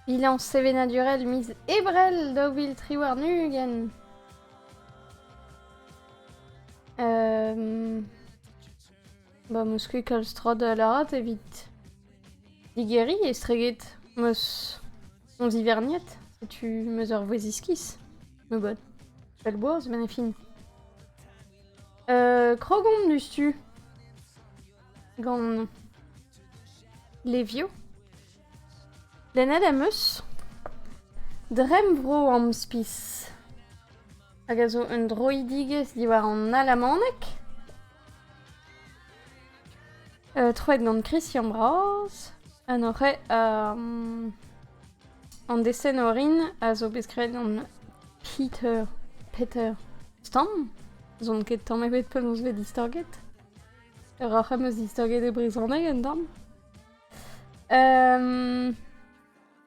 Bilañs sevenadurel miz Ebrel daou vil tri warn-ugent. Ba 'meus ket kalz tra da lâret evit digeriñ estreget 'meus on ziverniet. Setu 'meus ur vouezh iskis. Me bod. Pell boaz, met ne fin. krog on diouzhtu. Gant levioù. Lennet em eus Dremmvro Amspis, hag a zo un droidigezh diwar an alamaneg, euh, troet gant Christian Braz, ha n'oc'h um, an desen orin a zo bet skrivet gant Peter, Peter Stam, zon ket tamm ebet penaos vez distorget. Peoc'h em eus distaget e brezhoneg un tamm.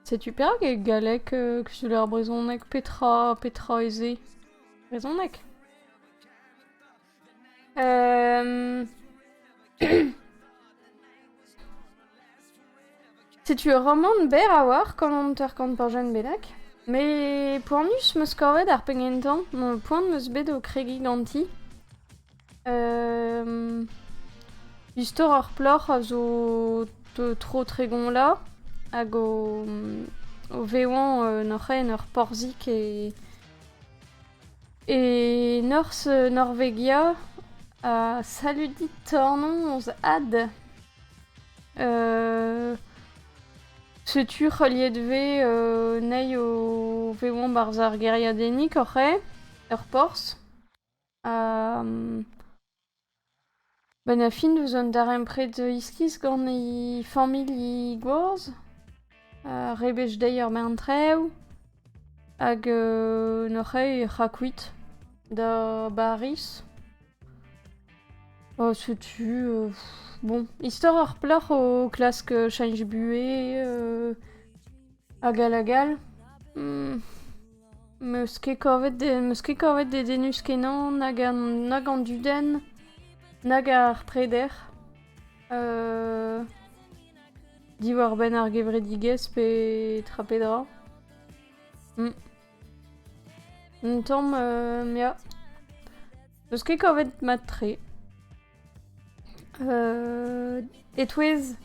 Setu perak e galleg euh, kuzuller brezhoneg petra, petra ez eo brezhoneg? Setu ur romant berr a-walc'h gant an teurkant pajenn bennak. Me poanius 'm eus kavet ar penn gentañ, poan 'm eus bet o kregiñ ganti. Istor ar plac'h a zo tro tregont la hag o vevañ en hoc'h aen ur porzhig e norzh Norvegia. Ha salud dit tornoz Ad. Setu heuliet 'vez anezhi o vevañ 'barzh ar gêriadennig hoc'h aen, ur porzh. Benn ar fin 'deus an darempred iskis gant he familh gozh. Rebech dezhi ur bern traoù hag nac'h eo he c'hakuit da Bariz. Setu bon, istor ar plac'h o klask cheñch buhez hag all hag all. 'Meus ket kavet meus ket kavet dedennus kenañ nag an nag an dudenn nag ar preder diwar-benn ar gevredigezh pe tra petra. Un tamm ya. 'Meus ket kavet mat-tre. E-touez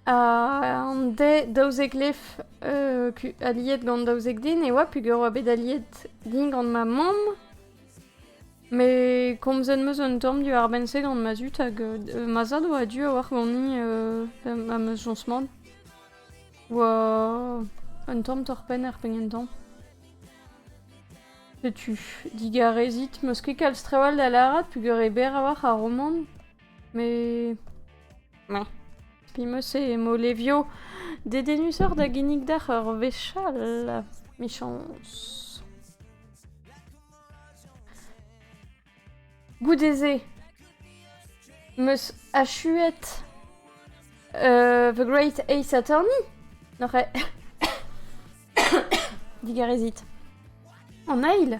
an de daouzek lef aliet gant daouzek den e oa peger oa bet aliet din gant ma mamm. Met komzet 'm eus un tamm diwar-benn-se gant ma zud hag ma zad oa a-du a-walc'h ganin am eus soñs-mat. Oa un tamm torr-penn er penn gentañ. Setu, digarezit, 'meus ket kalz trawal da lâret peogwir eo berr a-walc'h ar romant. Met... Mais... Penaos e mo levio dedennusoc'h da ginnig deoc'h ur wech all, 'michañs. Goude-se, meus achuet uh, The Great Ace Attorney. Noc'h digarezit. An eil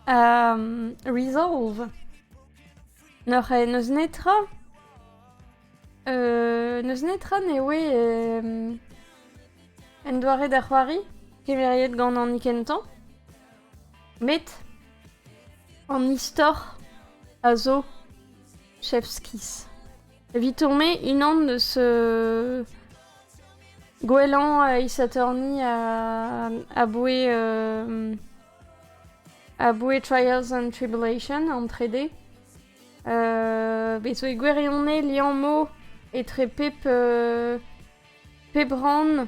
um, Resolve. Noc'h n'eus netra euh, n'eus netra ne oe euh, en doare da c'hoari, kemeriet gant an ikentañ. Met an istor a zo Chevskis. Evit tourner unan eus euh, gwellañ e Saturni aboe euh, aboe Trials and Tribulation an trede. Euh, bet zo e gwirionez liammo etre pep pep rann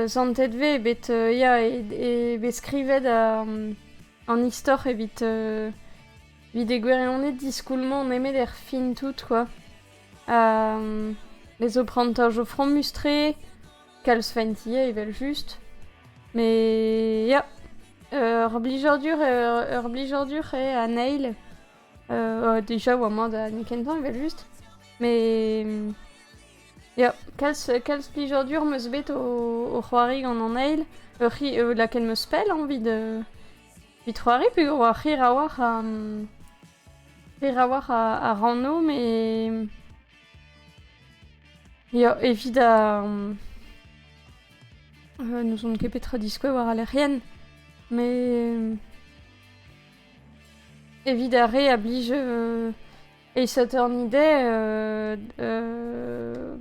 santet vez bet ya eo bet skrivet an istor evit evit e gwirionez diskoulmañ nemet er fin tout quoi ha ez eo prantoj o fromus-tre kalz fent ivez evel-just met ya ur blijadur ur blijadur eo an eil déjà oa mat ha n'eo ket kentañ evel-just. Mais ya, kalz, kalz plijadur 'm eus bet o, o c'hoari gant an eil. Ur c'hi- euh, lakaet 'm eus pell evit euh, evit c'hoari peogwir oa hir a-walc'h a hir a-walc'h a, a ranno mais ya, evit a... euh, n'ouzon ket petra diskouez war al lec'hienn mais Evit ar re a blij euh, e Saturn Hidey, euh, euh,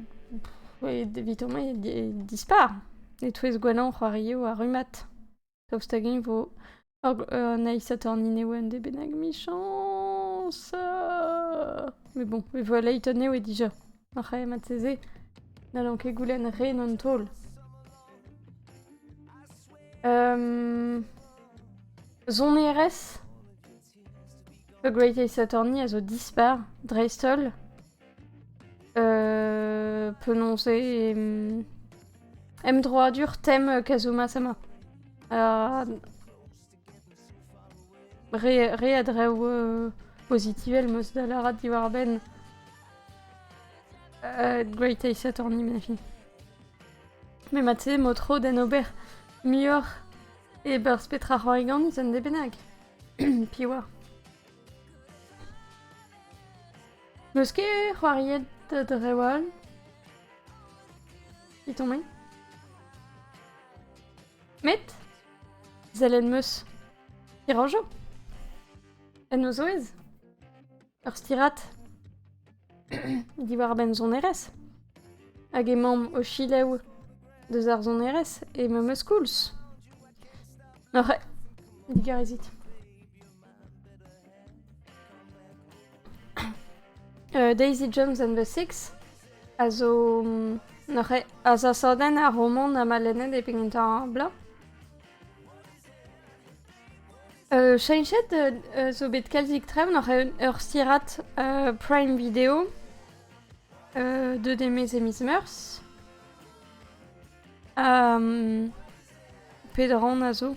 evit homañ e dispar. E-touez gwanañ c'hoarioù ha rummad. Daoust hag-eñ vo an eil Saturn Hidey en dé bennak michañs? Mais bon, e vo Layton eo e dija. Ar c'hementse-se n'hallan ket goulenn ren an taol. Um, sonerezh The Greatest Attorney a zo dispar, dreist-holl. Euh, penaos eo em, emdroadur tem Kazuma-sama. Uh, Re a draoù pozitivel 'm eus da lâret diwar-benn Great Ace Attorney mefi. Met mat-se emañ tro d'en ober muioc'h e-berzh petra roy ganin un den bennak. Piv oa? N'eus ket c'hoariet drev all? I tombe? Met, sellet 'm eus, hirañjo. En o zouez, ur stirad diwar-benn sonerezh. Hag emaomp o chilev deus ar sonerezh e memes koulz. Oc'h digarezit. Uh, Daisy Jones and the Six a zo mm, neuze azasadenn ar romant a ma lennet e pegin ta bla. Uh, chenchet uh, zo bet kalzik trev neuze ur stirat uh, Prime Video uh, de Demes et Miss Murs. Um, Pedron a zo.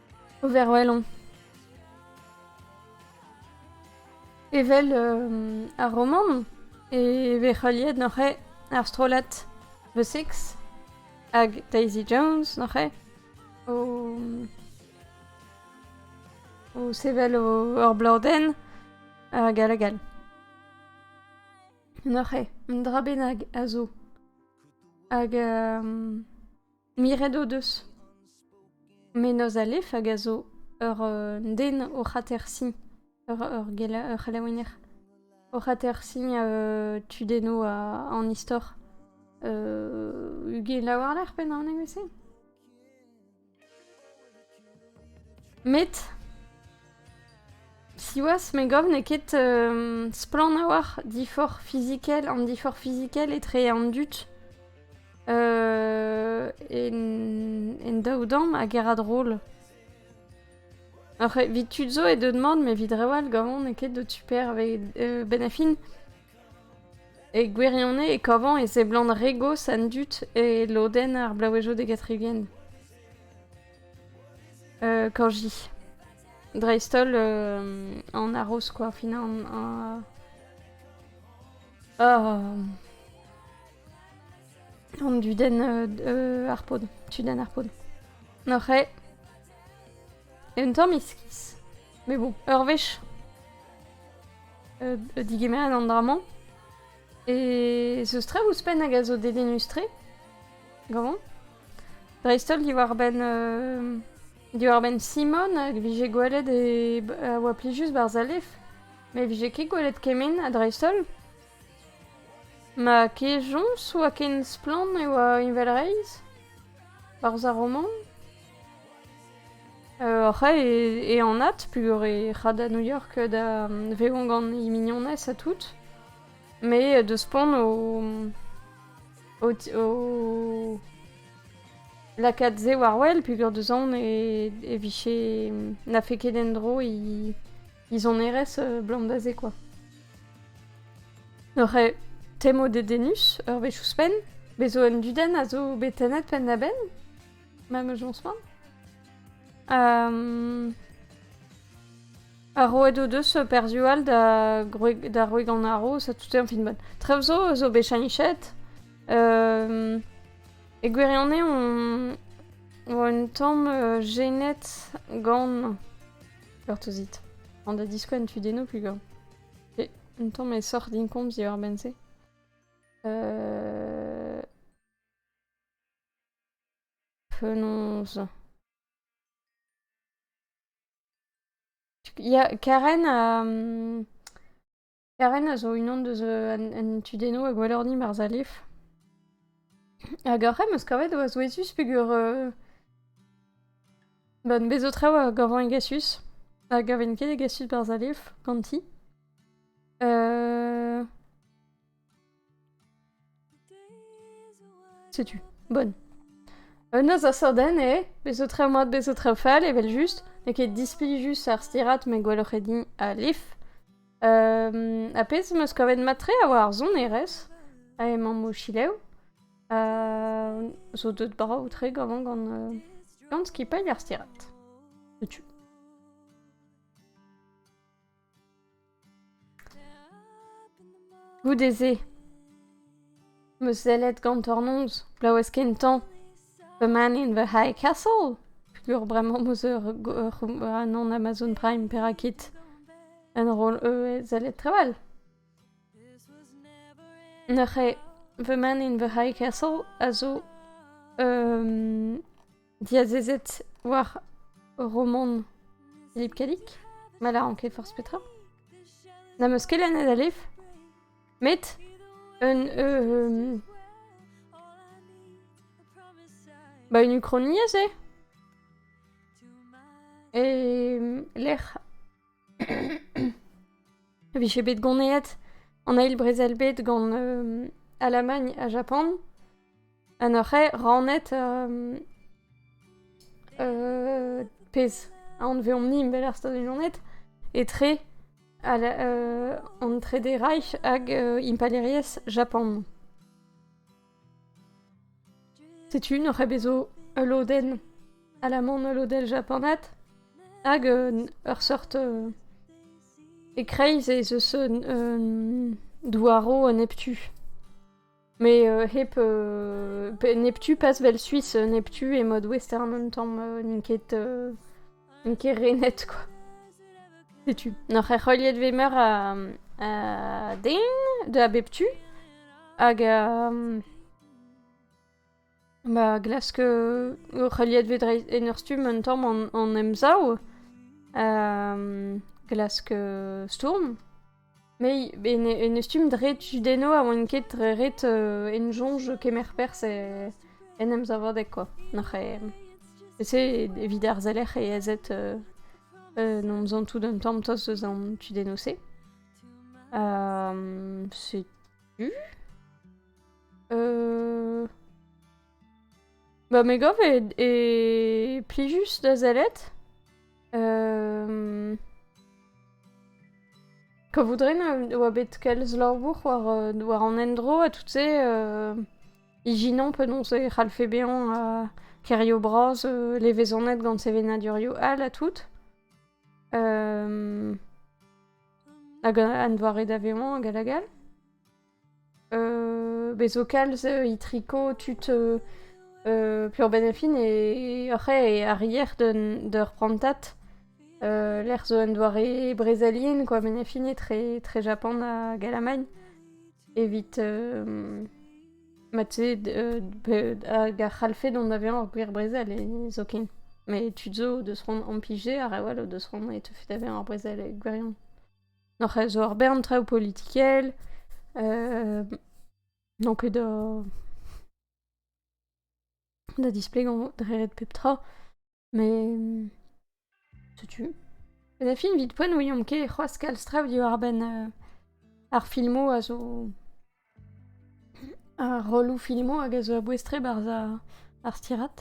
Overwhelon. Evel euh, ar romant e vez heuliet neuze ar strollad The Six hag Daisy Jones neuze o, o sevel o, ur bleudenn hag all hag all. Neuze, un dra bennak a zo hag euh, Miret o deus. Menoz Alef hag a zo ur den oc'h atersiñ, ur ur gela- ur c'helaouenner oc'h atersiñ tudennoù a- an istor. ugela war-lerc'h pennañ an evezh-se? Met, siwazh, me gav n'eo ket splann a-walc'h diforc'h fizikel an diforc'h fizikel etre an dud en daou damm hag er adroll. Evit tud zo eo deuet mat, met evit reoù all gavañ n'eo ket deut super. Benn ar fin, e gwirionez e kavañ e seblant re gozh an dud e lodenn ar blaouezhioù degatriguen. Kañji. Dreist-holl an arroz quoi au final. An dudenn ar pod. Tudenn ar pod. Oc'h eo. Un tamm iskis. Mais bon, ur wech digemeret an dra-mañ. E zeus tre ouzhpenn hag a zo dedennus-tre. Gavan. dreist-holl diwar-benn diwar-benn Simon hag vije gwelet e a oa plijus Barzalef met vije ket gwelet kement ha dreist-holl ma kejañs oa ken splann e oa heñvelreizh barzh ar romant oc'h e anat pur e ra da New York da vevañ gant he mignonez ha tout met deus spont o O... o... Lakaat se war-wel, peogwir deus on e, e vije... Na fait ket en-dro i... izonerezh euh, blandazé, quoi. N'oc'h temo dedennus ur wech ouzhpenn? Bezo un dudenn a zo bet tennet penn-da-benn? Ma ne soñs pas. Euh... Ha roet o deus perzhioù all da gwreg, da wreg an haroz ha tout e fin bod. Trev zo zo bet chanichet. Euh... E gwirionez, on... oa un tamm euh, genet gant... Bertozit. An da diskouenn tu deno plus gant. Et un tamm e sort din komz diwar benn-se. Euh... Penaos ? Ya, Karen a... Karen a zo unan deus an tudennoù a gwallorni barzh Alef. Hag ar c'hemm eus kavet oa souezhus peger... Ba bez zo traoù a gavan egasus. A gaven ket egasus barzh Alef ganti. Setu, bonne. Un noz a sorden eo, bez zo traoù mat, bez zo traoù fall, evel just. N'eo ket dispilh just ar stirat, met gwelloc'h eo din alif. Um, ha pezh am eus kavet mat-tre a oa ar sonerezh, ha emañ mochilev. Uh, zo deut brav-tre gant gant, uh, gant skipailh ar stirat. Setu. Goude-se 'm eus sellet gantornoz glaouez kentañ The Man in the High Castle peogwir bremañ 'm eus un an Amazon Prime perak ket un roll eu sellet trawal. Neuze The Man in the High Castle a zo diazezet war Romon Philippe Kadik, ma lâran ket forzh petra. N'am eus ket lennet alef, met un... Euh, ba une uchroniezh eo. E lec'h A vije bet ganeet an eil brezel bed gant euh, Alamagn ha Japan. Ha neuze rannet euh, euh, pezh anveomp-ni bel ar Stad Unanet etre al, euh, an Trede Reich hag euh, Impalaeriezh Japan. Setu n'oc'h ket bet zo ul lodenn alaman, ul lodenn japanat hag ur seurt e-kreiz ez eus un douaro un neptu. Met hep neptu pas 'vel Suis neptu e mode western un tamm n'int ket N'on ket renet, quoi. Setu. N'oc'h erc'heuliet vez meur a, a den de a bep tu. Hag... Euh, Ba, glask euh, o c'heuliet vez dreist en ur stumm un tamm an, an emsav. Euh, glask euh, stourm. Nei, ben en e stumm dre tudenno a oan ket ret euh, en soñj kemer perzh e, en emsavadeg kwa. Nac'h e... E-se evit ar selec'h e ezed euh, euh, en omzan tout un tamm tost eus an tudenno-se. setu... Euh... Ba me gav e, plijus da sellet. Euh... Ka voudren oa bet kalz labour war, war an endro ha tout se euh, ijinañ penaos e c'hallfe bezañ ha kerio bras euh, levezonet gant sevenadurioù all ha tout. Euh... Hag an doare da vezañ hag hag all. Bez zo kalz itriko tud Pleurbenn-e-fin e oc'h e arrier d'ur prantad lec'h zo un doare brezelien kwa benn-e-fin etre Japan hag Alamagn evit mat-se hag a c'hallfe dont da vezañ ur gwir brezel zoken met tud zo o deus c'hoant implijer ha re all o deus c'hoant e teufe da vezañ ur brezel gwirion. Noc'h a zo ur bern traoù politikel, n'on ket da da displegañ dredet pep tra, met setu. Un film evit poent ouiomp ket c'hoazh kalz traoù diwar-benn ar filmoù a zo Ar rolloù filmoù hag a zo a-bouez-tre 'barzh ar stirad.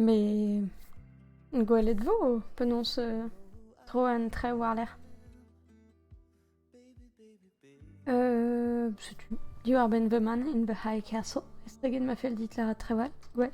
Met gwelet 'vo penaos tro an traoù war-lerc'h. setu diwar-benn The Man in the High Castle estreget ma fell dit lâret trawal, gwell.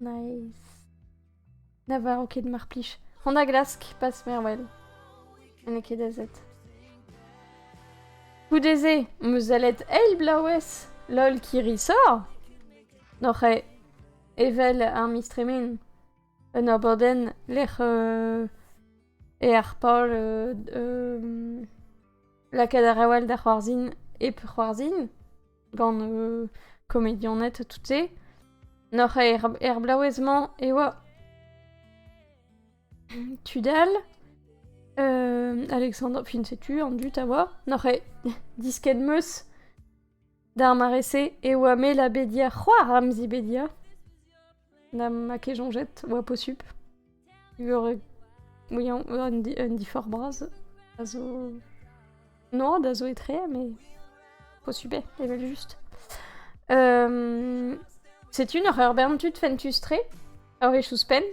Nice. Na varv ket, mar plij. On a glask, pas mervel. n'eo ket azet. Goude-se, am eus alet eil blaouez, lol kirri sor! N'oc'h e evel ar miz tremen. Un abadenn lec'h euh, e ar pal euh, euh, lakaat a rawal da c'hoarzhin hep c'hoarzhin gant euh, komedianed tout-se. Noc'h er, er blaouez-mañ e oa Tudal, euh, Alexandre, fin setu, an dut a oa, noc'h e disket meus d'ar marese e oa me la bedia c'hoar am zi bedia. Na ma ket soñjet 'oa posupl. Ur oui un diforc'h bras a zo... Non, da zo etre, mais posupl eo, evel-just. Setu un horror bern tud fentus-tre, a wech ouzhpenn.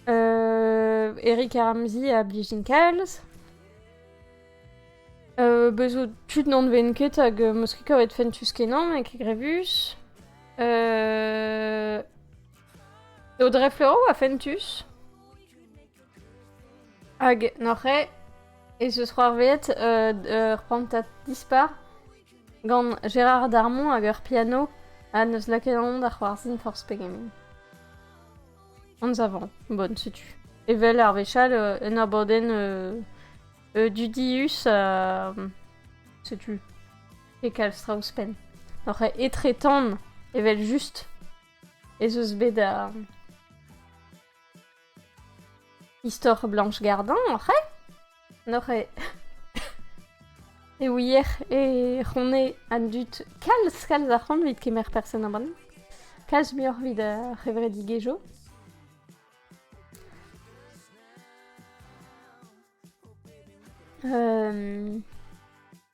Euh, Eric a ramzi a blijin kalz. Euh, bezo tud n'anveen ket hag euh, meus ket kavet fentus kenan e kegrevus. Euh... Eo dreflero a fentus. Hag noc'he ez eus c'hoarveet euh, ur prantad dispar gant Gérard Darmon hag ur piano ha neus laket an da c'hoarzhin forzh pegen. anzavant. Bon, setu. Evel ar wechall, euh, un abadenn euh, euh, dudius, euh, setu, e kalz tra ouzhpenn. N'oc'h etretan evel just ez eus bet a... Istor Blanche Gardin, oc'h Neuze e ouier e c'hone an dud kalz kalz a c'hoant evit kemer person aman, kalz muioc'h evit ar c'hevredigezhioù. Um...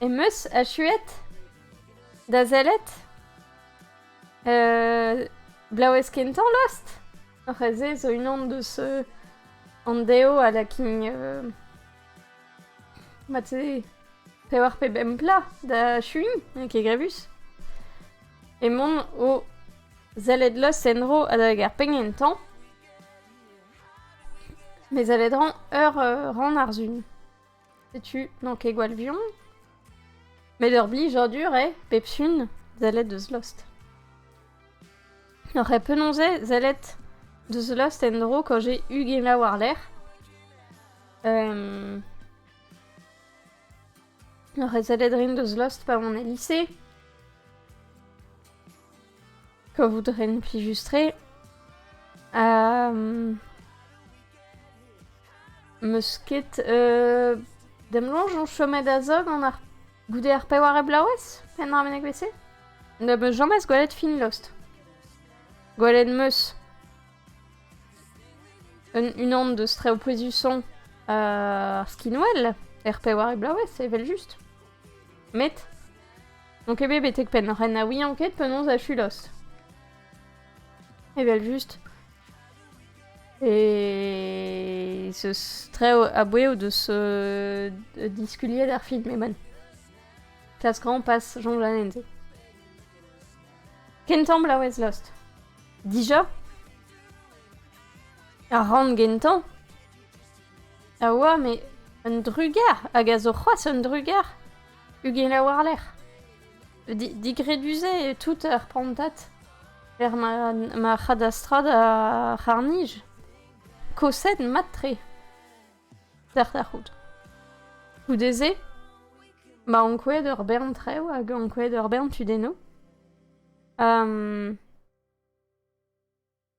Em eus achuet da sellet blaouez kentañ lost. C'hoazh-se zo unan deus an dev a lakin mat-se pevar pe bemp plas da achuiñ, n'eo ket grevus. Emaon o sellet lost en-dro adalek ar penn kentañ. Me sellet 'rañ ur rann ar Sun. Setu, n'an ket gwall buan. Met ur blijadur eo, pep sun, sellet deus Lost. N'aurais penaos eo sellet deus Lost en-dro quand j'ai ugent war-lerc'h. Euh... N'aurais sellet rin deus Lost pa on e lycée. Kavout a ren plijus-tre. Ha... Meus ket euh... Demloñj on chomet a-zod gant ar... Goude ar pewar e bloavezh pennañ ar meneg vese? Ne beus james gwelet fin lost. Gwelet meus. Un unan deus treoù pouezusañ ar skinwell er pewar e bloavezh, evel-just. Met n'on ket bet betek penn. Ren na ouian ket penaos achulos. Evel-just. E zeus tre a-bouez o deus euh, diskuliet ar film eman. Kas grand pas Jean Lanenze. Kentamble a wez lost. Dija? Ar ran gentañ? A oa, met un drugar hag a zo c'hoazh un drugar ? Ugela war-lerc'h. Di- digredus-se eo tout ar prantad er ma ma c'hadastrad ar c'harr-nij. Koset mat-tre d'ar da c'hoût. Goude-se ma ankouaet ur bern traoù hag ankouaet ur bern tudennoù.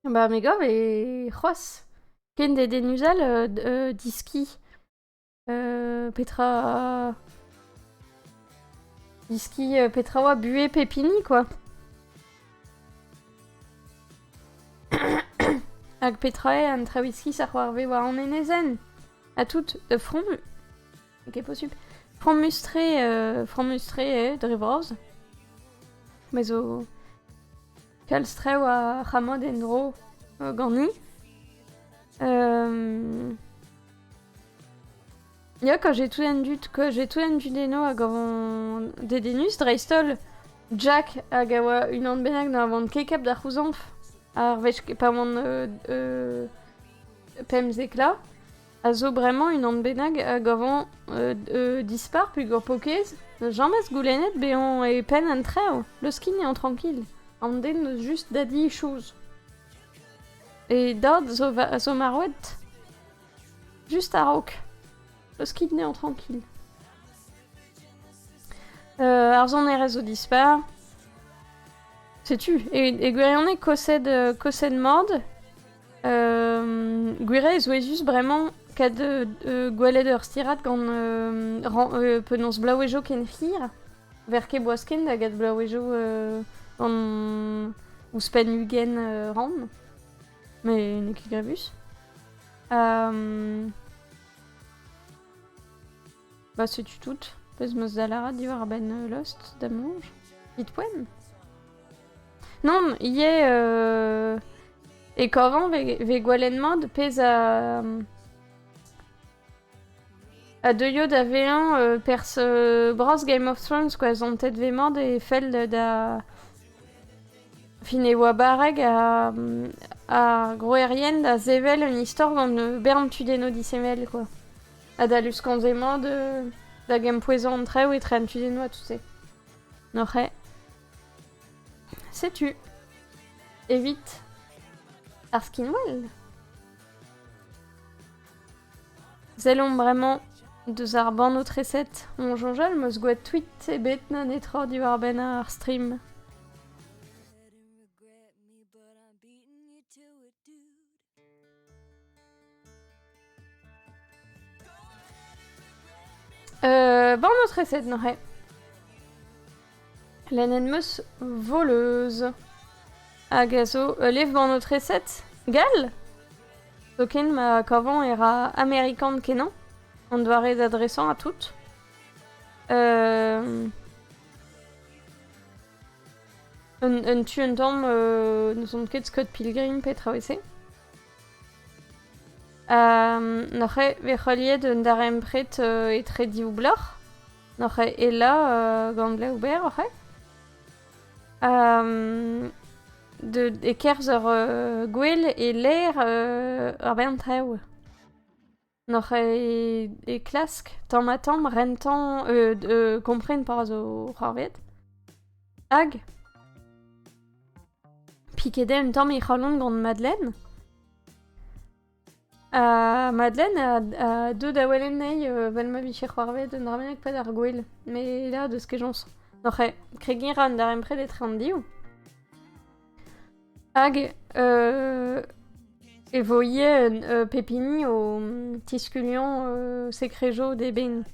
Bah me gav e c'hoazh ken dedennus all euh, d- euh, diski. Euh, petra... Diski, euh, petra oa buhez pepini quoi. Hag petra eo an traouiskis a c'hoarvez war an enezenn? Ha tout, euh, fromu... Ok, posupl. Fromustre, euh, fromustre eo, dre vras. Me zo... Kalz traoù a c'hamot en-dro ganin. Ya, quand j'ai tout enduit, quand j'ai tout enduit des noix hag avant dedennus, dreist-holl Jack hag a oa unan bennak na van ket kap da c'houzañv ar wech pa oan uh, uh, pemzek la. a zo bremañ unan bennak a gavan dispar peogwir pokez n'eus james goulennet bezañ e penn an traoù leuskin eo trankil an den n'eus just da di chouz e dad zo marvet just a-raok leuskin eo trankil ar sonerezh zo dispar setu e gwirionez kosed mord Gwiriañ e souezhus bremañ kad gwelet ur stirad gant penaos blaouezo ken hir. Ver ket boaz-ken da get blaouezo ouzhpenn ugent rann. Met n'eo ket grevus. Bah setu tout. Peus ma za lâret diwar-benn euh, Lost damanj Hitpoem Non, ivez euh, e kavan ve, gwalen mat pezh a... a deuio da vezañ euh, pers bras Game of Thrones quoi zantet ve mat e fell da fin e oa barreg a, a groerien da sevel un istor gant bern tudenno disevel quoi. Adal uskanv-se emañ de... da gempouezañ an traoù etre an tudennoù ha tout-se. N'oc'h eo? Setu. Evit ar skinwell Sellomp bremañ deus ar bannoù-treset on soñjal 'meus gwet tweet ebet na netra diwar-benn ar stream. Euh, ban notre recette, Noré. Lenenn meus voleuse. Hag a zo euh, lev ban notre recette Gal Zoken ma kavan e ra Amerikan kenan. En doare d'adresan à tout. Euh... Un, tu un tamm n'ouzon ket Scott Pilgrim petra e se. N'oc'h bet c'holiet un darempred etre div bloc'h. N'oc'h ela gant ble ober oc'h de, e-kerzh ur gwel e-lec'h ur bern traoù. N'oc'h e, e klask tamm-ha-tamm rentañ euh, d- euh, kompren pa zo c'hoarvet. Hag piket eo un tamm he c'halon gant Madeleine. Ha Madeleine a, a deu da welet anezhi euh, 'vel ma vije c'hoarvet un dra bennak pad ar gwel. Me la deus kejañs. N'oc'h e, kregiñ 'ra un darempred etre an div. Hag e vo ivez pep hini o tiskuliañ sekrejoù d'eben.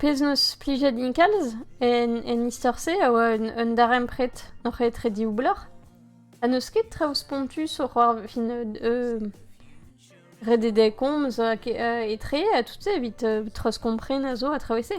Pezh 'neus plijet din kalz en istor-se a oa un darempred hoc'h etre div bloc'h. Ha n'eus ket traoù spontus oc'h fin rededek komz etre a tout-se evit treuzkompren a zo a traoù e-se.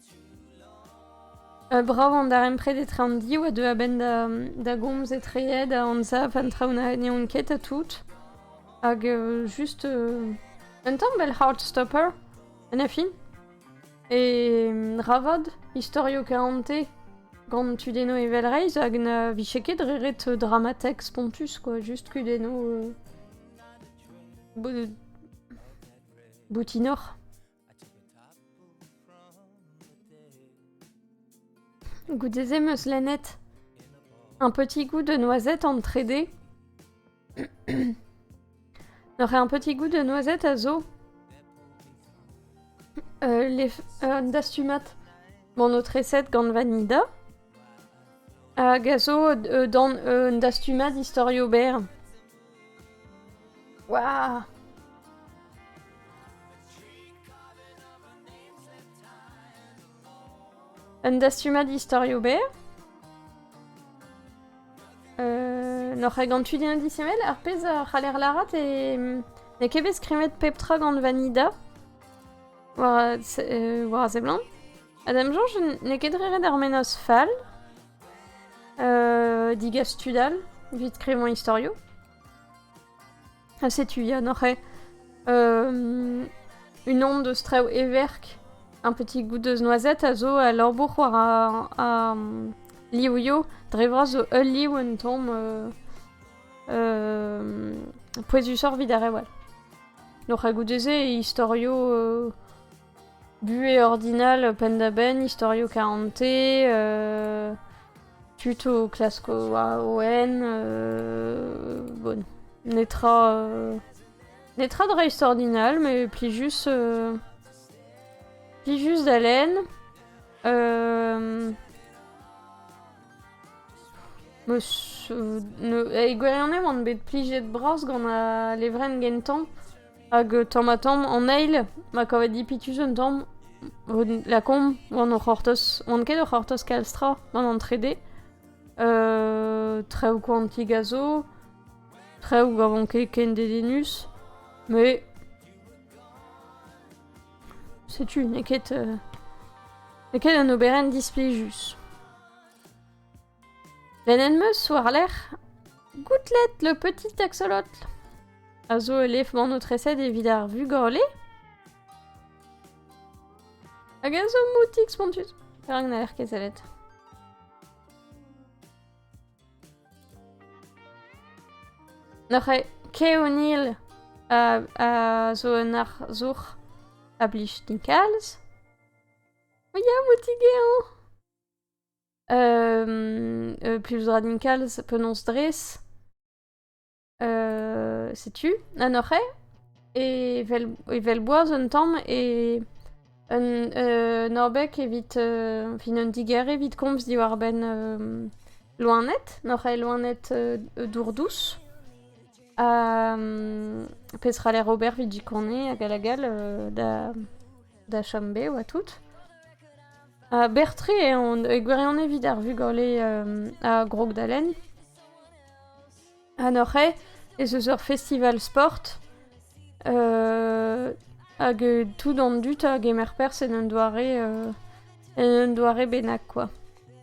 Brav an darempred etre an div a deu a-benn da gomz etreet da anzav an traoù na n'eont ket ha tout. Hag just un tamm fel Heartstopper en e fin. E ravad istorioù kaonte gant tudennoù evelreizh hag na vije ket re ret dramatek spontus quoi, juste kudennoù euh, boutinoc'h. Goudzezé meus lennet un petit goût de noisette en trede. N'aurait un petit goût de noisette à zo euh, les euh, dastumat mon autre recette gant vanida hag a zo euh, dans un dastumat d'historio ber. Waouh! Un dastumad istorioù berr euh, N'oc'h ket gant tud indisemmel ar pezh a c'haller lâret e n'eo ket bet skrivet pep tra gant Vanida war, euh, war a seblant. Ha da 'm soñj n'eo ket re ret ar menoz fall. Euh, digas tud all, evit skrivañ istorioù. Ha setu Yann eh? euh, une onde de strew everk, un petit goût de noisette a zo a lambourc'h war a, a liouio dre vras zo ul liv un tom euh, euh, pouezusoc'h vit ar rewal. Noc'h a goude-se e istorioù euh, Buhez ordinal penn-da-benn, istorioù karante, euh, tud o klask o AON, euh, bon, netra, euh, netra de reste ordinal, mais pli juste, euh, pli juste d'haleine. Euh, Eguerrianem on bet plijet bras gant a levrenn gentañ Hag tamm-ha-tamm an eil ma kavet dipitus un tamm lakaomp oan o c'hortoz. Oan ket o c'hortoz kalz tra gant an trede. traoù koantik a zo, traoù a ran ket ken dedennus, mais setu n'eo ket n'eo ket un oberenn displijus. Lennet 'm eus war-lerc'h Goutlet le petit axolotl a zo ul levmann-aotreset evit ar vugale hag a zo moutik spontus. Perak n'aller ket sellet? Noc'he Keonil a, a zo un arzour a blij din kalz. O ya, moutik eo! Euh, euh, plus radical, ça peut non stress. Euh, setu, an oc'he, e vel, e vel boaz un tamm, e un, un orbek evit, euh, fin un diger evit komz diwar-benn euh, loened, n'oc'he loened euh, dourdous. Ha, euh, pezh ra ler ober vit jikone hag hag all euh, da da chom bev ha tout. Ha berr-tre eo on e gwirionez evit ar vugale uh, a Grogdalen. Anoc'h ez eus ur festival sport uh, hag tout an dud a gemer perzh en un doare uh, en un doare bennak quoi.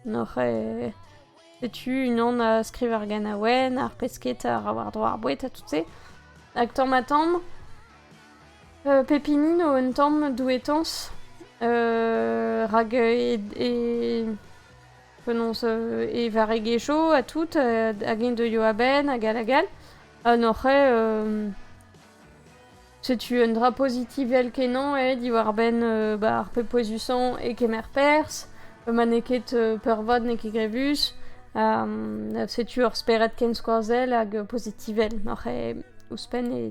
Noc'h Setu unan a skriv ar ganaouenn, ar pesked a ra war-dro ar boued ha tout-se. Hag tamm ha tamm, euh, pepini no un tamm douetañs, euh, rak e, e penaos euh, e varregezho ha tout, hag eñ deuio a-benn, hag all hag all. Ha n'oc'h ket... euh, Setu un dra pozitivel-kenañ eo diwar-benn ba ar pep pouezusañ e kemer perzh. Ma n'eo ket peurvat n'eo ket grevus. setu ur spered kenskoazell hag pozitivel oc'h ouzhpenn e...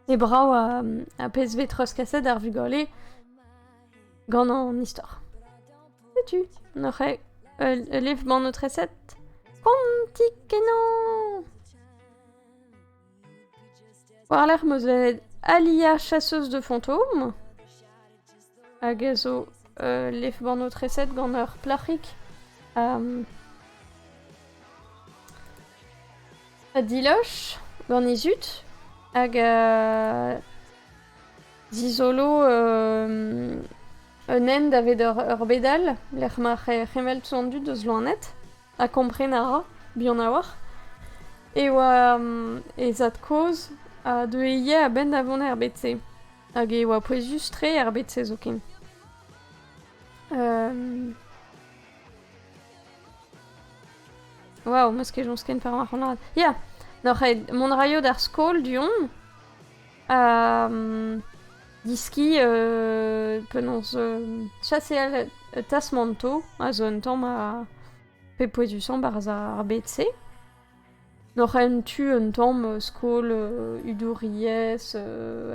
E brav ar pezh vez treuzkaset ar vugale gant an istor. Setu, n'oc'h ket ul livbannotreset konti-kenañ! War-lerc'h 'm eus bet aliañ chasseuse de fantômes. hag a zo ul lef-bannoù-treset gant ur plac'hig ha ha diloch gant he zud hag a zizolo un hent daved ur bed all lec'h ma c'hemelltz an dud eus loened ha kompren a ra buan a-walc'h e oa he zad-kozh a deue ivez a-benn da vont er bed-se. Hag e oa pouezus-tre er bed-se zoken. Um... Waouh, meus ket joñs ken par mac'hanaat. Ya! N'oc'h aet mont raio d'ar skol du-hont ha um, diski uh, penaos uh, chaseal tasmanto a zo un tamm a... pe pouezusañ barzh ar bed-se. N'oc'h en tu un tamm skol hudouriezh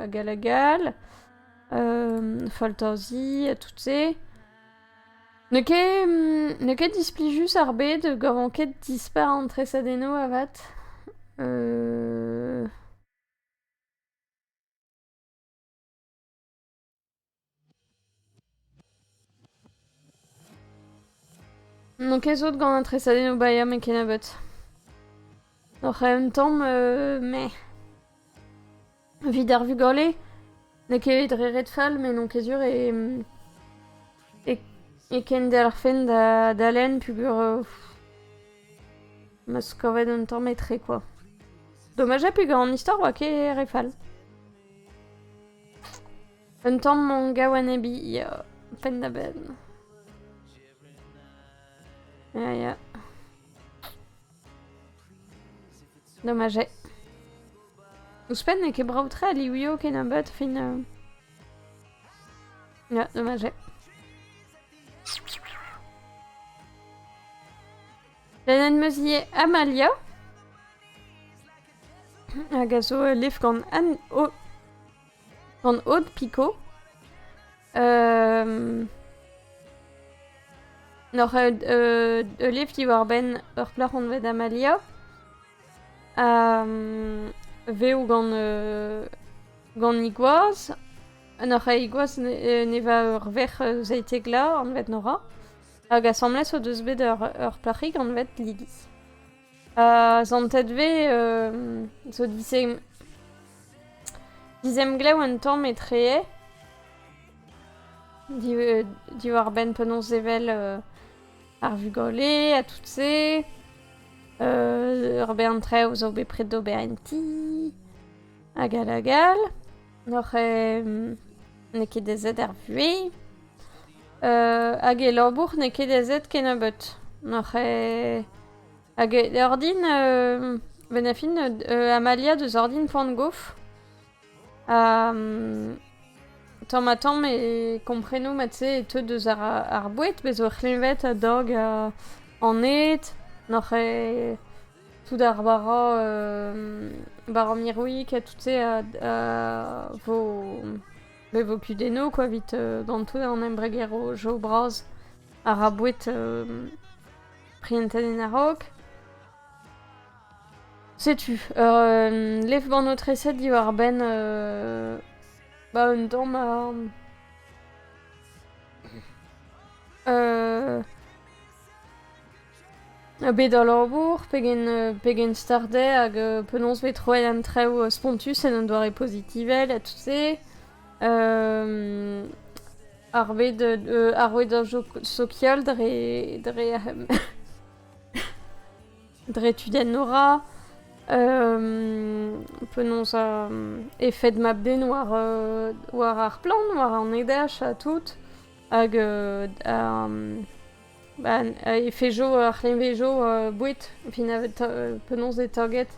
hag all hag all, faltazi ha tout-se. N'eo ket n'eo ket displijus ar bed, gavan ket dispar an tresadennoù avat. Donc ez out gant an tresadennoù Bayam e kennebeut. Donc en même temps, euh, mais... Vit ar vugale, n'eo ket dre ret fall, mais non kezur e... E, e ken delc'hfen da dalen pugur... Euh, ma zo kavet un tamm etre, quoi. Dommage ha pegar an istor oa ket re fall. Un tamm gaou enebiñ ya, penn-da-benn. Ya ya. Dommage. Ouzhpenn n'eo ket brav-tre a liwio kennebeut fin... euh, Ya, dommage. Lennet 'm eus ivez Amalia, hag a zo ul levr gant Anne O- gant Aude Picot. N'oc'h ket ul levr diwar-benn ur plac'h anvet Amalia, ha vev gant gant he gwaz. N'oc'h ket he gwaz, ne- neva ur verc'h zaytekla anvet Nora. Hag asambles o deus bet ur, ur plac'hig anvet Lily. Ha zantet vez euh, zo dizem, dizemglev un tamm etree euh, diwar-benn penaos evel euh, ar vugale ha tout se. Euh, ur bern traoù zo bet pred d'ober en ti. Hag hag hag. N'oc'h n'eo ket aezet er vuhez hag e labour n'eo ket aezet kennebeut. N'oc'h hag ordin bennafi Amalia deus ordin poan-gof ha tamm-ha-tamm e kompreno mat-se e teu deus ar boued, bez' oc'h c'hleñved a-dog aned, n'oc'h tout ar war ar mirwig ha tout-se a vo be vo kudennoù quoi evit d'an tout an embregero jo bras a ra boued prientet en a-raok. Setu, euh, lev ban ho treset diwar-benn euh, ba un tamm a... Euh, Bet al labour pegen pegen start eo hag penaos e vez troet an traoù spontus en un doare pozitivel ha tout-se. ar bed ar rouedañ sokial dre dre dre tudennoù 'ra, penaos efed mab-den war war ar plant, war an heder ha tout hag Ba'n efe jo ar c'hleñvejo boued penaos penaos eo taget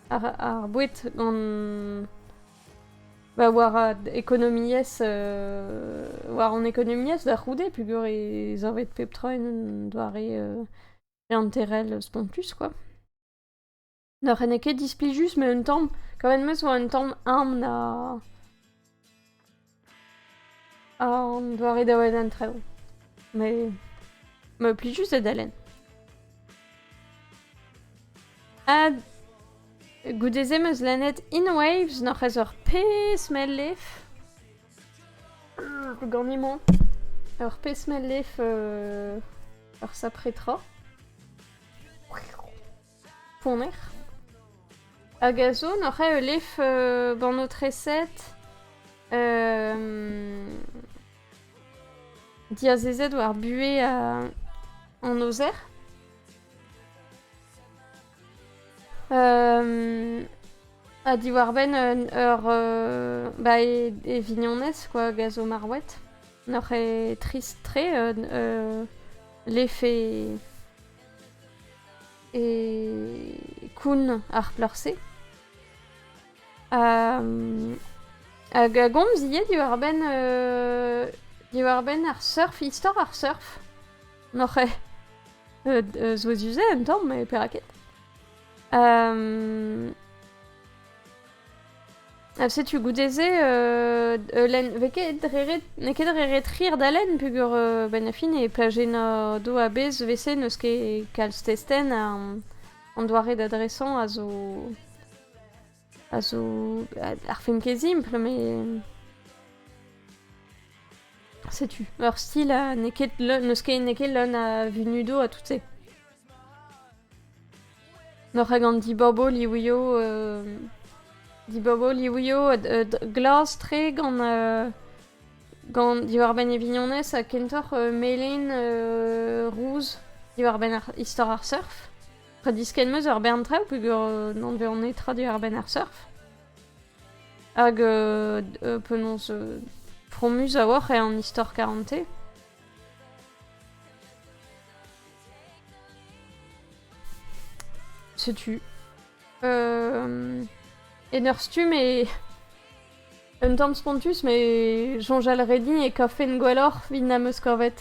ar ar boued gant ba war an ekonomiezh war hon ekonomiezh da c'houde peogwir ez avet pep tra en un doare leanterel spontus quoi. Ne rene ket displijus, met un tamm. Kavet 'm eus 'oa un tamm aon a... a an doare da welet an traoù. Mais... me pli juste da dalen. Ha... goude-se 'm eus lennet In Waves n'oc'h eus ur pezh mell-lef. Euh, Ganimon. Ur pezh mell-lef... euh, ur sapre tra. ponner hag a zo n'oc'h ae ul lef ba'n ho treset diazezet war buhez an aozer. ha diwar-benn ba e vignonez quoi hag a zo marwet n'oc'h ae trist-tre lef e e koun ar plac'h-se. hag a gomzie diwar-benn euh, diwar-benn ar surf, istor ar surf. N'oc'h eo euh, zo duzet un tamm, mais perak ket. Ha setu goude-se, euh, Elen, vez ket dre ret, n'eo ket dre ret rir d'Alen, peger euh, ben a fin e plajenna do a-bez vese n'eus ket kalz testen an, an doare d'adresan a zo... a zo... ar film ket simpl, me... Setu, ur stil n'eo ket, n'eus ket, n'eus ket leun a vunudo ha tout se. Noc'h ag an dibaboù liwioù euh, dibaboù liwioù euh, glas-tre gant euh, gant diwar-benn e vignonez ha kentoc'h melin rouz diwar-benn istor ar surf. Tra diskenn meus ur bern traoù peogwir n'on bet netra diwar-benn ar surf. Hag penaos fromus a-walc'h eo an istor karante. Setu. Euh... En ur stumm e... Un tamm spontus, mais soñjal redin e kafen gwelloc'h vin am eus kavet.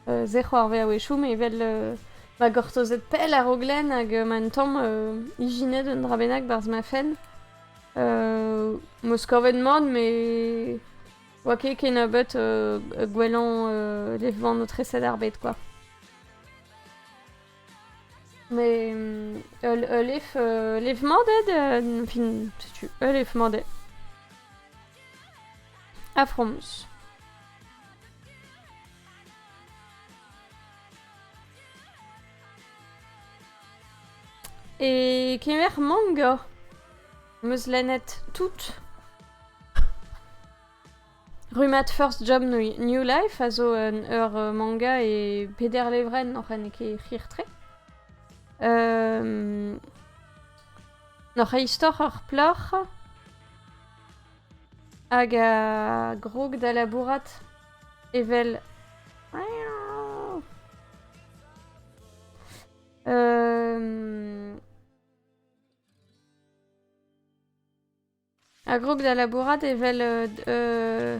Euh, ze c'hoarvea wechoum evel euh, ma gortozet pell a-raok len hag euh, ma un tamm euh, ijinet un dra bennak barzh ma fenn. Euh, Meus kavet mat, mais oa ket kennebeut euh, gwellañ euh, levan o treset ar bed, quoi. Mais ul lef lef-mañ ded, fin, setu, ul lef-mañ ded. A fromz. E kemer manga 'm eus lennet tout. Rummad First Job New Life a zo un, ur euh, manga e peder levrenn oc'h en ket c'hir-tre. Euh, oc'h e istor ur plac'h hag a grog da labourat evel euh, Ar group da labourat evel euh,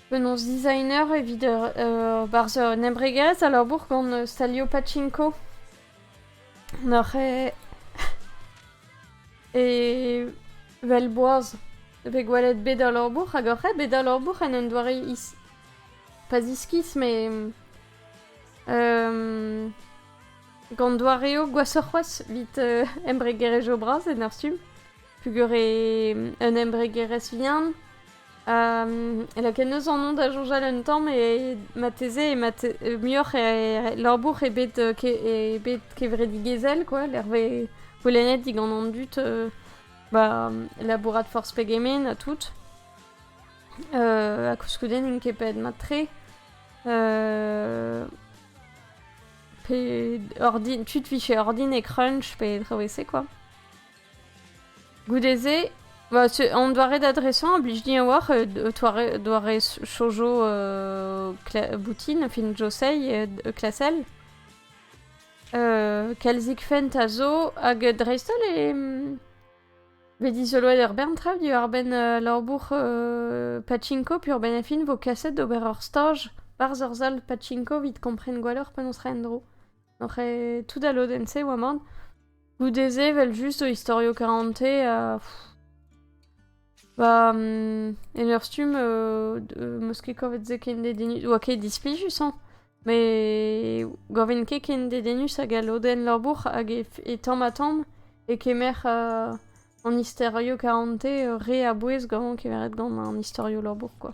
penaos designer evit ur barzh un embregaz a labour gant Stalio Pachinko. Noc'h e... e... vel boaz pe gwelet bet al labour hag oc'h bet al labour en un doare is... pas iskis, mais... Euh, Gant doareoù gwashoc'h c'hoazh evit embregerezh zo bras en ur stumm, pugur eo un embregerezh vihan. Um, lakaet eus an da soñjal un tamm e marteze e mat muioc'h e labour ebet ebet kevredigezhel quoi lec'h goulennet digant an dud ba labourat forzh pegement ha tout. ha koulskoude n'int ket bet mat-tre. Pe ordin... tu te ficher ordine crunch pe traouese quoi. Goude-se, bah, on doit adresser un blij din a-walc'h euh, doare, doare chojo euh, boutine fin Josei et euh, Klassel. Euh, Kelzik fent a zo hag dreist-holl e... Bet dizoloet ur bern traoù diwar-benn labour pachinko peurbennafi vo kaset d'ober ur staj 'barzh ur sal pachinko 'vit kompren gwelloc'h penaos reiñ en-dro. Oc'h tout al lodenn-se oa mat. Goude-se 'vel just zo istorioù karante ha ba en ur stumm 'm eus ket kavet se ken dedennus oa ket displijus hañ! Met gaven ket ken dedennus hag al lodenn labour hag e tamm-ha-tamm e kemer an istorio karante re a-bouez gant kemeret gant an istorio labour kwa.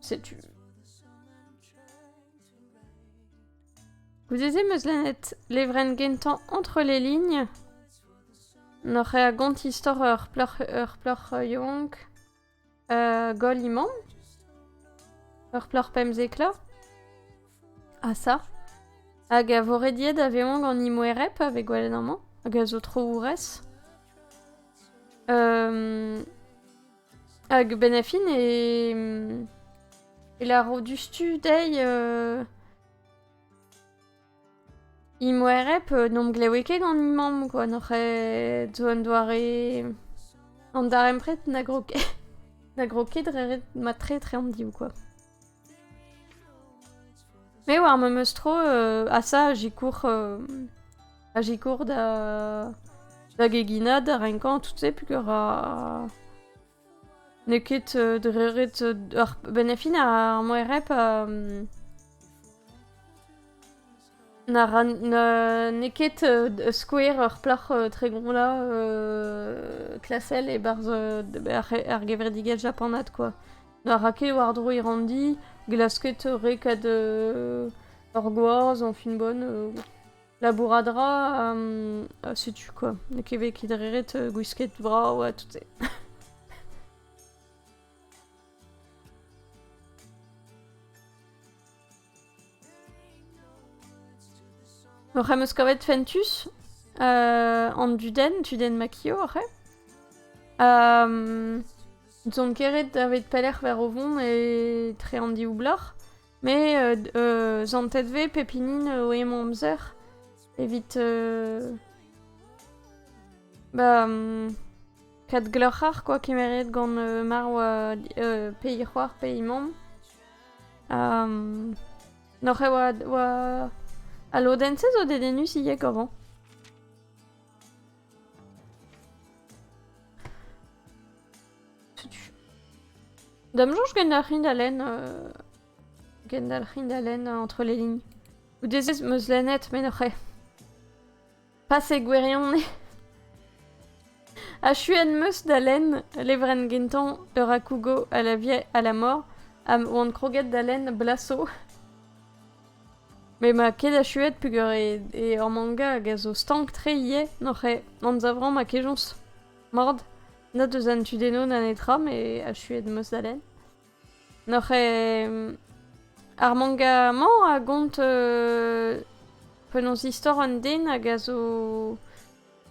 Setu. Goude-se 'm eus lennet levrenn gentañ Entre les lignes. N'oc'h a gont istor ur plac'h, ur plac'h yaouank Goll imant. Ur plac'h pemzekañ. Ha ça. Hag a vo rediet da vezañ gant he moereb pa vez gwelet amañ. Hag a zo tro-ourez. Hag benn ar fin e lâro diouzhtu dezhi... Imoereb n'om glewe ket gant he mamm kwa, n'oc'h ket zo un doare... an darempred na grog ket na grog ket dre ret mat-tre etre an div kwa. Me oar memes tro euh, asa a sikour euh, a sikour da da geginad, da renkañ, tout se pugur a N'eo ket euh, dreuret euh, ar benn a fin ar moereb euh, na ra n'eo ket euh, skouer ur plac'h euh, tregont la euh, klasel e-barzh euh, ar gevredigezh japanat quoi. Na ra ket war-dro e ranndi, glasket re kad ur euh, gwaz, anfin bonne. Euh... labourat a ra, ha setu quoi. N'eo ket bet ket ret gwisket brav ha tout-se. Oc'h em eus kavet Fentus uh, an Duden, Duden Makio, oc'h Um, Zon keret davet pelec'h var o vont e tre an div bloc'h. Mais euh, euh, zantet ve pep hini eo emañ amzer evit euh, ba mm, kat gloc'har quoi kemeret gant euh, mar oa euh, pays c'hoar pays mamm ha mm, noc'h e oa oa al lodenn-se zo dedennus ivek avant Da'm soñj gendalc'hin da lenn... euh, gendalc'hin da lenn entre les lignes. Goude-se ez meus lennet menoc'h eo. Pase gwirionez. Achuet meus da lenn levrenn gentañ Euracougo à la vie, à la mort, ha 'oan kroget da lenn Blasso. Met ma ket achuet peger eo ar manga hag a zo stank-tre ivez n'oc'h anzavrañ ma kejañs. Mat, nat eus an tudennoù na netra met achuet 'm eus da lenn. N'oc'h ar manga-mañ a gont penaos istor un den hag a zo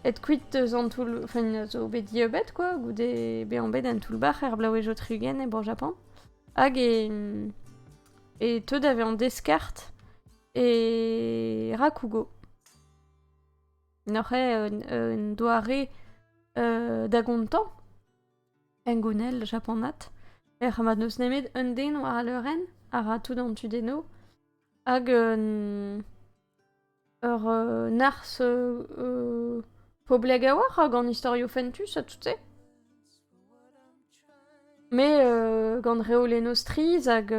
aet kuit eus an toull... enfin a zo bet dieubet quoi goude bezañ bet en toull-bac'h er blaouezh-tregont e Bro-Japan hag e... e teu da vezañ deskard e Rakugo. N'oc'h un doare da gontañ hengounel japanat ec'h mat n'eus nemet un den war al leurenn a ra tout an tu dezho hag un Ur narzh poblek a-walc'h hag an istorioù fentus ha tout-se. Mais gant reolennoù strizh hag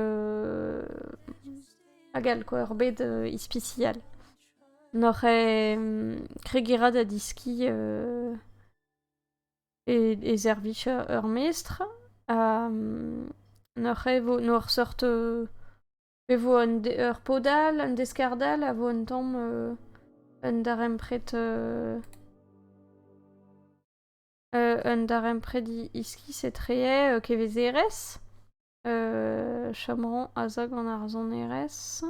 hag all quoi, ur bed ispisial. N'oc'h kregerañ da deskiñ e servij ur mestr ha n'oc'h seurt Pe vo un de- ur pod all, un deskard all a vo un tamm euh, un darempred euh, euh, un darempred i- iskis etre euh, kevezerezh, euh, chomerañ azag an arzonerezh,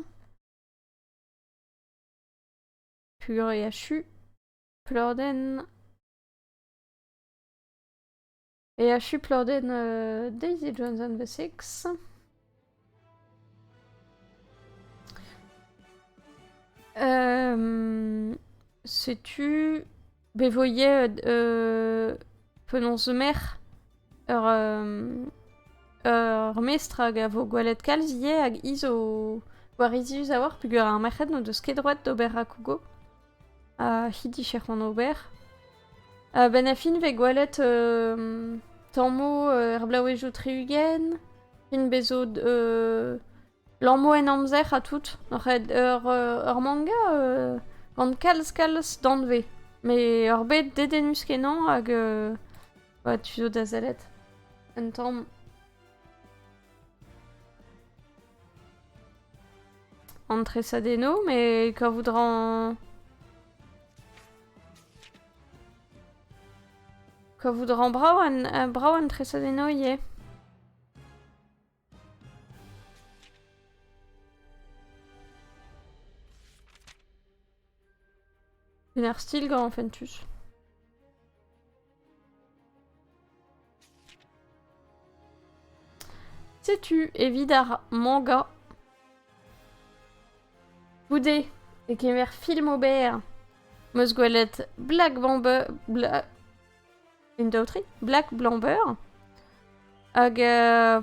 pur et achu, pladenn, E achu pladenn uh, Daisy Jones and the Six. Euh, Sais-tu Bevoyer euh, Penons mer ur, euh, ur mestr hag a vo gwelet kalz ivez hag iz o gwarizius a-walc'h peogwir ar merc'hed n'o deus ket droed d'ober rakougo. ha he dije c'hoant ober. A-benn a fin vez gwelet euh, tammoù euh, er blaouezioù tri-ugent, fin bezo euh, lammoù en amzer ha tout. Noc'het ur ur manga euh, gant kalz-kalz danvez. Mais ur bet dedennus kenañ hag euh, ouais, tu zo da sellet. Un tamm An tresadennoù, mais kavout ran... Kavout ran brav an, brav an tresadennoù ivez. Une art style gant Fentus. Setu evit ar manga. Goude e kemer film ober. Meus gwelet Black Bamber... Bla... Black Blamber. Hag... Uh,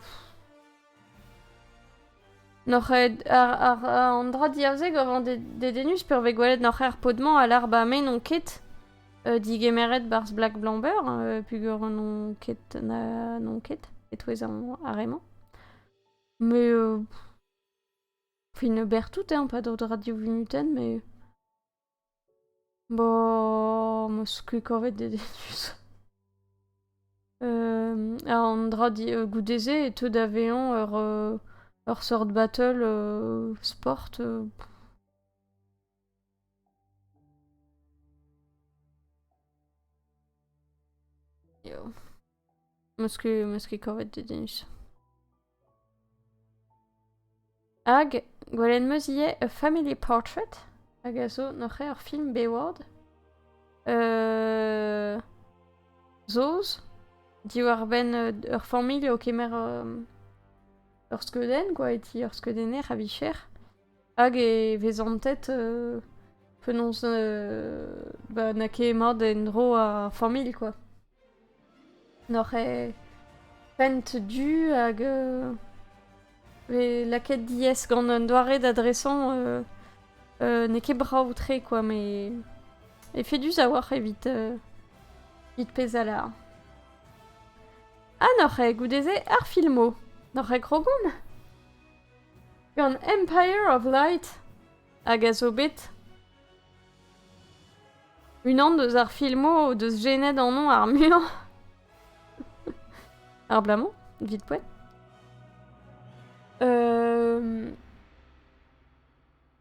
Noc'h an dra diàr-se gav an dedennus peurv eo gwelet noc'h er pod-mañ a lar 'ba me n'on ket digemeret 'barzh Black Blomber peogwir n'on ket n'on ket e-touez ar re-mañ. Mais fin berr tout hein, pas d'autres radios vinutaines mais... Bo, 'm eus ket kavet dedennus. an dra goude-se e teu da vezañ ur ur seurt battle sport. Meus ket, meus ket kavet dedennus. Hag gwelet meus ivez A Family Portrait, hag a zo noc'h ur film Bayward. Euh... Saoz, diwar-benn ur familh o kemer ur skeudenn, quoi, e ti ur skeudenner a-vicher. Hag e vez antet euh, penaos euh, ba, na ket mat en-dro ar familh, quoi. N'oc'h ket pent du hag e vez lakaet diaes gant un doare d'adresañ n'eo ket brav-tre kwa met efedus a-walc'h evit evit pezh a lâr. Ha n'oc'h ket goude-se ar filmoù? N'oc'h ket krogomp? Gant Empire of Light? Hag a zo bet unan deus ar filmoù o deus jenet anv ar muiañ abalamour vite poet euh...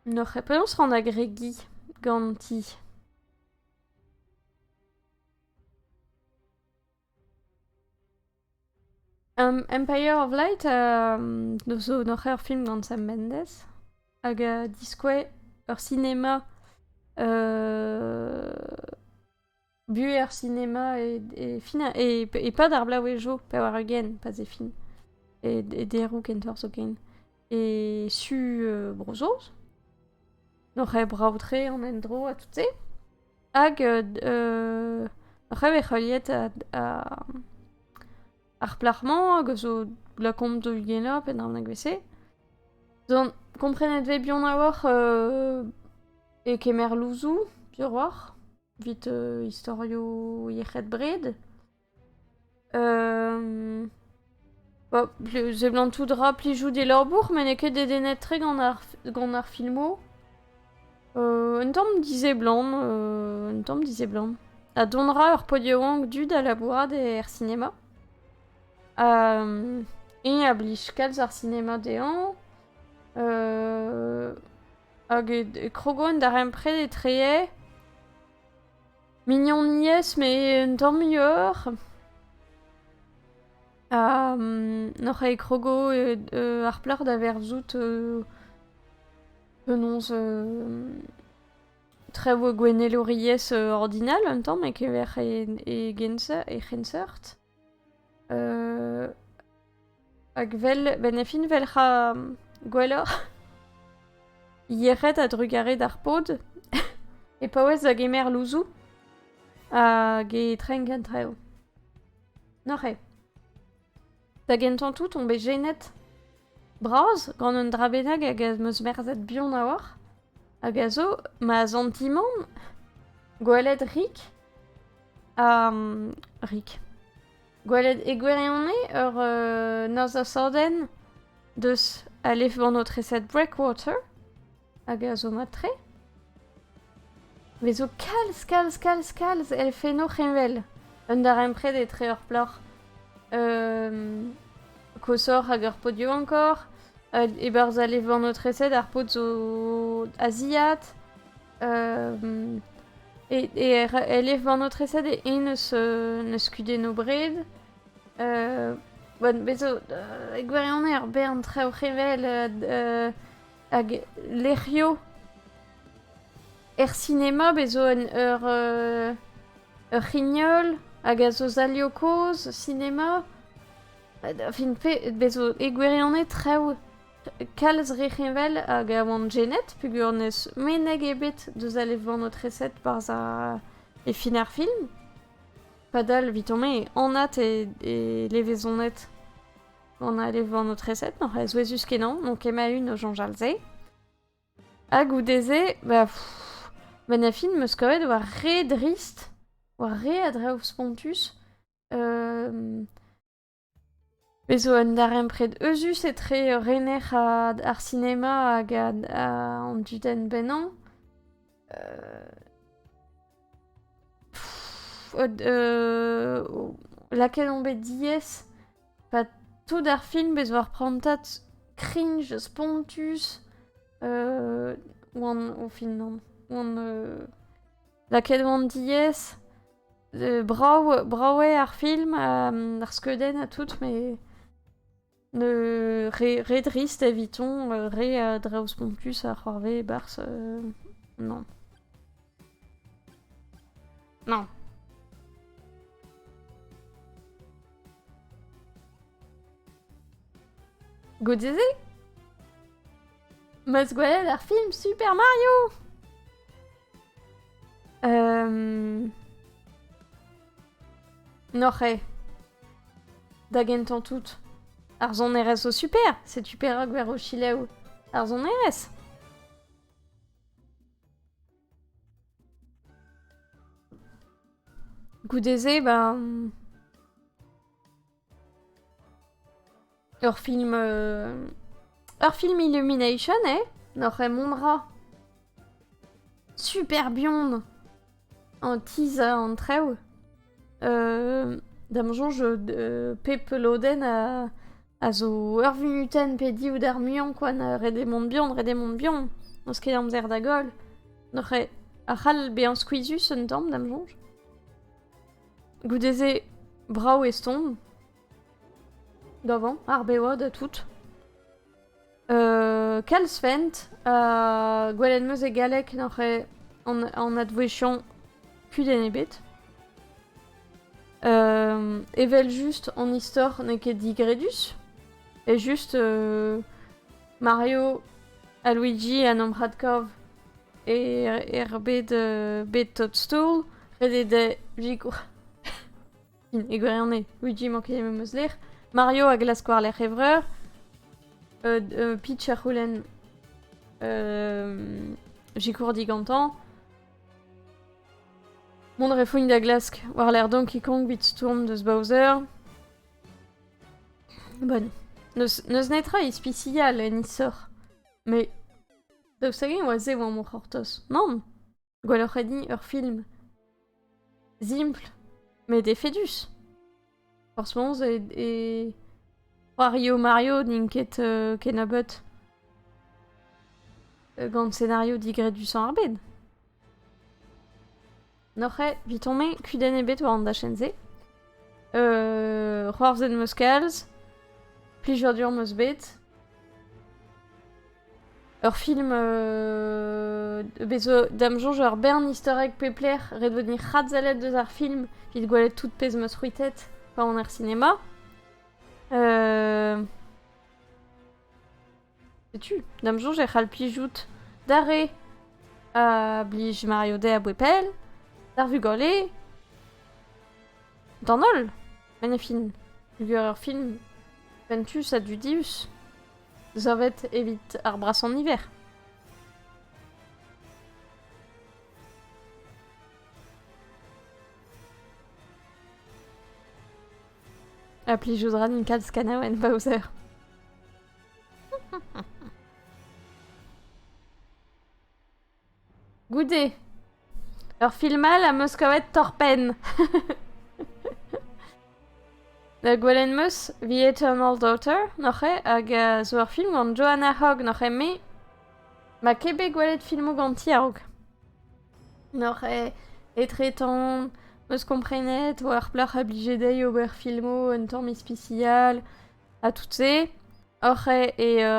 n'aurais penaos rant agrégi ganti Um, Empire of Light uh, zo noc'h ur film gant Sam Mendes hag uh, diskouez ur sinema uh, buhez ar sinema e, e, fin, e, e pad ar blaouezho pevar ugent pas e fin e, e deroù kentoc'h zoken e su euh, Bro-Saoz, oc'h eo brav-tre an endro ha tout-se. Hag euh, oc'h eo heuliet ar plac'h-mañ hag a zo lakaomp da ugenañ pe dawn vese. Donc, komprenet vez bihan a-walc'h euh, e kemer louzoù, piroc'h, vit euh, istorioù yec'hed bred. seblant tout dra plijout e labour met n'eo ket dedennet tre gant ar filmoù. un tamm diseblant, un tamm diseblant. Ha dont ra ur pod yaouank du da labourat er sinema. eñ a blij kalz ar sinema dezhañ. hag e krogo en darempred etre Mignoniezh, met un tamm muioc'h. Ha n'oc'h ket krogo ar plac'h da verzout penaos traoù gwenelouriezh ordinal un tamm e-kever e genseurt. Hag vel, ben e fin vel c'ha gwelloc'h, yec'hed a-drugarez d'ar pod, e paouez da gemer louzoù hag e trein gantrev. Neuze, da gentañ tout on bet jenet bras gant un dra bennak hag ez meus merzhet buan a-walc'h. Hag a zo ma zantimant gwelet Rick ha mm, Rick gwelet e gwirionez ur euh, norzh asadenn deus alefban o treset Breakwater hag a zo mat-tre. Vezo kalz, kalz, kalz, kalz elfennoù c'heñvel. Un darempred etre ur plac'h euh, koshoc'h hag ur podio encore, Hag e-barzh alevannotresed ar paotr zo asiat. E elevannotresed eo eñ n'eus kudenn o bred. Bez' zo e gwirionez ur bern traoù c'hevel hag lec'hioù. Er sinema bez' zo ur c'hrignol hag a zo stalioù kozh sinema. Da fin-fe, bezo e gwirionez traoù kalz re heñvel hag a oant jenet peogwir n'eus meneg ebet deus a levrioù aotreset barzh ar e fin ar film. Padal, evitañ-me, anat eo e levezoned gant al levr aotreset, n'oc'h a souezhus-kenañ, n'on ket ma-un o soñjal se. Ha goude-se, ba, pff, benn ar fin 'm eus kavet war re drist, war re a draoù spontus, Bez zo un darempred euzhus etre rener ar sinema hag an dudenn bennañ. Lakaet on bet diaes. Pa tout ar film bez war prantad cringe spontus. Oan, o fin, oan Lakaet on diaes. Brav, brav eo ar film, ar skeudenn ha tout, met ne re, re drist evitañ, re a draoù spontus a c'hoarvez e-barzh. non. Non. Godize Must go ahead, ar film Super Mario Euh... N'oc'h eo. Da gentañ tout, ar sonerezh zo super. Setu perak ver o chilev ar sonerezh. Goude-se, ben... Ur film... Euh... Ur film Illumination, eh N'oc'h mon rat Super bion En teaser en trev euh, Da'm soñj euh, pep lodenn a, a zo ur vunuten pe div d'ar muiañ kwa na redemont bion, redemont bion N'eus ket amzer da goll N'oc'h ar c'hall bezañ skuizhus un tamm, da'm soñj Goude-se, brav e stourm. Davant, ar bevad ha tout. Euh, kalz fent, ha gwelet meus e galleg n'oc'h an advouezhiañ kudenn ebet. Euh, evel just an istor n'eo ket digredus, e just euh, Mario, ha Luigi ha Nomp Radkov e, er bed, euh, bed Toadstool. Ret eo da vigour. e gwirionez, Luigi manket em eus lec'h. Mario a glask war lec'h e vreur. Euh, euh, Peach a c'houlenn euh, Gikour digantañ. Mont refougn da glask war lec'h Donkey Kong bit Stourm deus Bowser. Bon, n'eus netra ispisial en isor, met daoust hag-eñ oa se e oa o c'hortoz? Nann, gwelloc'h eo din ur film simpl met efedus. Forzh forzh e c'hoario Mario n'int ket kennebeut gant senario digredushañ ar bed. N'oc'h ket, biton-me, kudenn ebet war an dachenn-se. Euh... C'hoarzhet 'm eus kalz. Plijadur 'm eus bet. Ur film... Euh... Bez zo da'm soñj ur bern istorek peplec'h ret vet ni c'hadsellet deus ar film evit gwelet tout pezh 'm eus c'hwitet pa on er sinema. Euh... Setu, d'am soñj e c'hall plijout d'ar re a blij Mario Day a-bouez pell, d'ar vugale, d'an holl, ma ne fin peogwir ur film fentus ha dudius, savet evit ar brasañ niver. Ha plijout ra din kalz kanaouenn Bowser. Goude ur film all am eus kavet torr-penn. Da gwelet 'm eus The Eternal Daughter noc'he, hag uh, zo ur film gant Joanna Hogg noc'he, me ma ket bet gwelet filmoù ganti a-raok. Noc'he etretant, 'm eus komprenet war plac'h a blije dezhi ober filmoù un tamm ispisial. Ha tout-se oc'h eo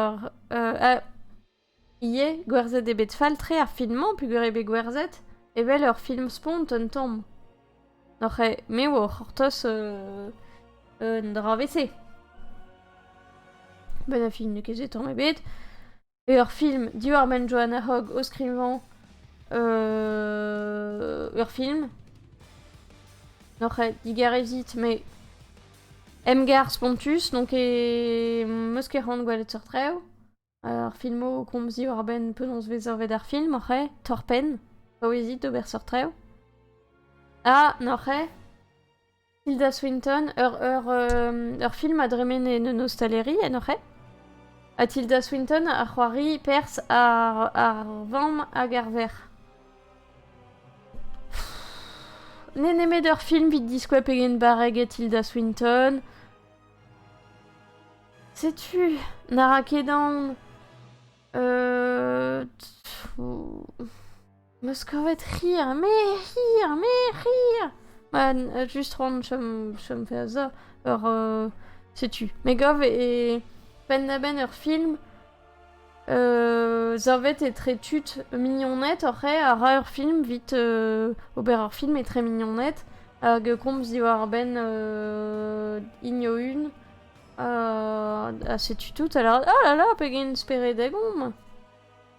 ur... ivez gwerzhet eo bet fall-tre ar film-mañ peogwir eo bet gwerzhet evel ur film-spont un tamm. Oc'h... me eo o c'hortoz un dra 'vez-se. Benn ar fin n'eo ket se tamm ebet. ur film diwar-benn Joanna Hogg o skrivañ ur film. N'oc'h ket digarezit, mais Emgar spontus, donc e meus ket c'hoant gwelet seurt rev. Ar filmo o komz diwar-benn penaos vez savet ar film, oc'h eo? Torr-penn. Paouezit d'ober seurt rev. Ha, n'oc'h eo? Hilda Swinton, ur, ur, ur film a dremen en un ostaleri en hoc'h aet ha Tilda Swinton a c'hoari perzh ar, ar vamm hag ar verc'h. N'eo nemet ur film evit diskouez pegen barrek eo Tilda Swinton. Setu, na ra ket aon. Euh... 'Meus kavet c'hi ar maer, c'hi ar maer, c'hi ar... Ma, just ront chom, chom faire ça. Ur, euh, setu. Me gav e penn-da-benn ur film euh, savet etre tud mignoned oc'h a ra ur film vit euh, ober ur film etre mignoned hag komz diwar-benn euh, Ignoun ha, ha setu tout. Alors, ah là là, pegen spered a gomp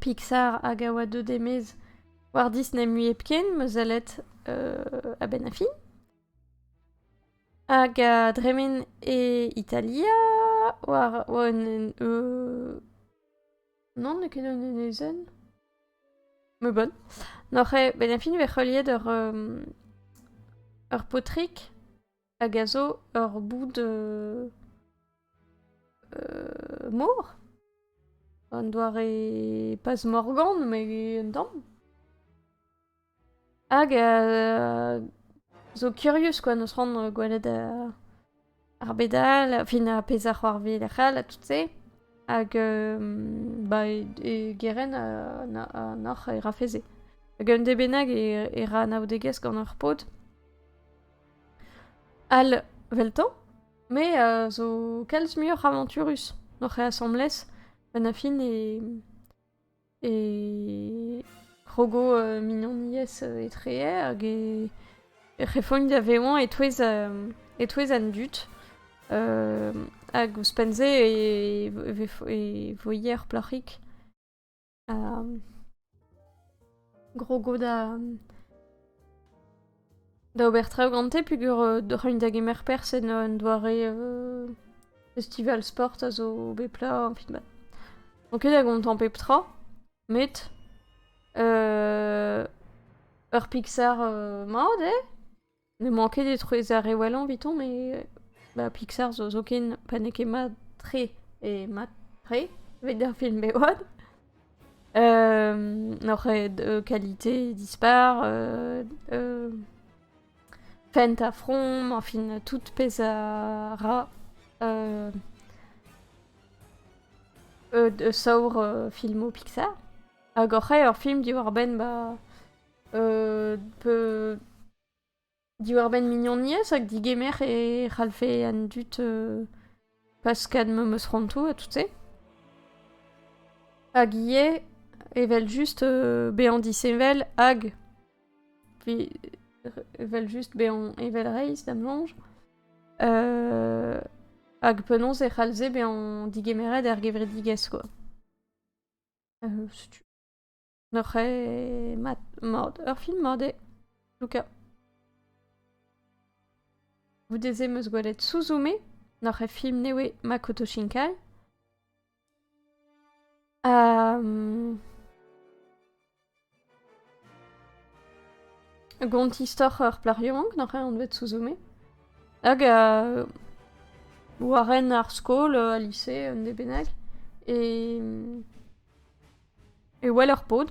Pixar hag a oa deuet e-maez war Disney mui hepken, ma sellet a-benn ar fin. Hag a dremen e Italia war oa un un non n'eo ket un enezenn me bonn noc'h eo benn ar fin e vez c'heuliet ur ur paotrig hag a zo ur boud mor. Un doare pas morgan, mais un tamm. Hag a zo curious quoi, n'eus ran gwelet ar bedal, fin ar pezh a c'hoarvez lec'h all, ha tout se. Hag ba, e, geren an oc'h e rafeze. Hag un de bennak e, e ra anaoudegezh gant ur paotr. All, 'veltañ? Me a zo kalz muioc'h avañturus oc'h e asambles gant ar fin e e krogo mignoniezh etreer hag e e c'hefogn da vevañ e-touez e-touez an dud hag ouzhpenn-se e vo e voe ur plac'hig. grogo da da ober traoù gante peger euh, da c'hagn da gemer pers en un doare euh, festival sport a zo bet pla enfin ba. Donc da gontañ pep tra met euh, ur Pixar euh, mat eh? N'emañ ket etrouez ar re wellañ evitañ, met ba Pixar zo zoken pa n'eo ket mat-tre eo mat-tre evit ar film bevad. N'oc'h ket qualité dispar, fent ha from, enfin tout pezh a ra saour filmoù Pixar. Hag oc'h eo ur film diwar-benn ba Peu... Diwar-benn mignoniezh hag digemer e c'hallfe an dud paskat memes rantoù ha tout-se. Hag ivez, evel-just, bezañ disheñvel hag evel-just bezañ evel-reizh, da'm soñj. Hag penaos e c'hallfe bezañ digemeret er gevredigezh, quoi. Setu. N'oc'h ket mat, mat, ur film mat eo, Luca. Goude-se 'm eus gwelet Suzume, n'oc'h ket film ne oe Makoto Shinkai. Gont istor ur plac'h yaouank n'oc'h ket anvet Suzume. Hag euh, war ren ar skol, euh, al lise, un de bennak. E... e wel ur pod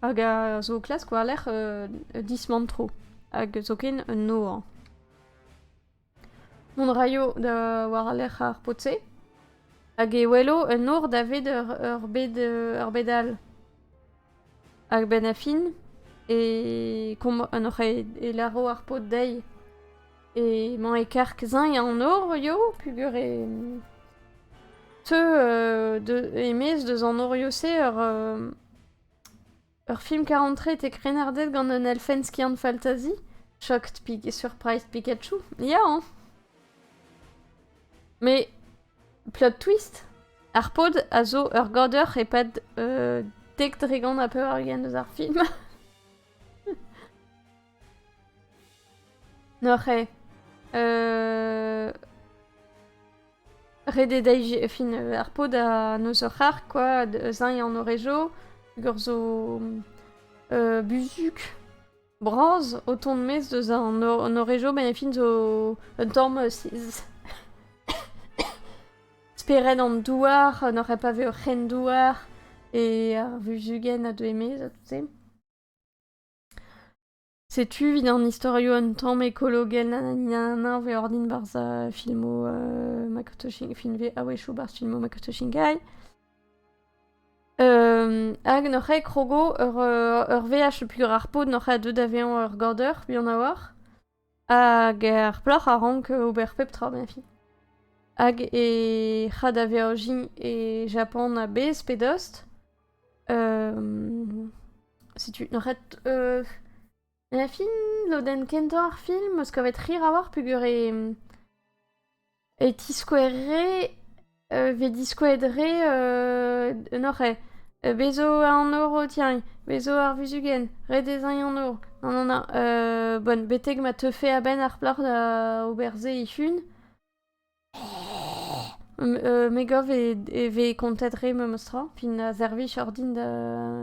hag a zo o klask war-lerc'h uh, dismantro hag zoken un nor. Mont raio da war-lerc'h ar pod-se hag e welo un nor daved ur, bed, ur bed all. Hag benn a fin e, un oc'h e, e laro ar pod dezhi Emañ e karg-zeñ an nor eo peogwir e teu euh, de, e-maez deus an noriv-se ur euh, ur film karantred e krennarded gant un elfenn skiant faltazi. Shocked Pig et Surprised Pikachu. Ya hein Mais plot twist, ar pod a zo ur goder e-pad euh, dek dregont ha pevar ugent eus ar film. Noc'he. Euh... Ret eo dezhi fin ar pod ha n'eus ur c'harg kwa, zeñ an horejo, hag zo euh, buzuk bras o tont mes deus an horejo, ben fin zo un tamm siz. Spered an douar, n'oc'h pas ve ur c'hren-douar, e ar vuzugenn a deu e-maez ha tout-se. Setu evit an istorioù un tamm ekologel nananinanan vez ordin barzh filmoù Makoto Shin- film vez a-wechoù barzh filmoù Makoto Shinkai. hag n'oc'h ket krogo ur ur veaj le plus rare pod n'oc'h ket deuet da vezañ ur gaoder buan a-walc'h. Hag er plac'h a rank ober pep tra ganti. Hag e c'ha da Virginie e Japan a-bezh pe dost. setu, n'oc'h ket fin lodenn kentañ ar film 'm eus kavet rir a-walc'h peogwir e... e tiskouere e vez diskouezet re un oc'h-ê. Bez zo an horv tiagn, bez zo ar vuzugenn, ret ez aint an horv. Non, non, non, bon betek ma teufe a-benn ar plac'h da ober se e-hun, me gav e vez kontet re memes tra. Fin a servij ordin da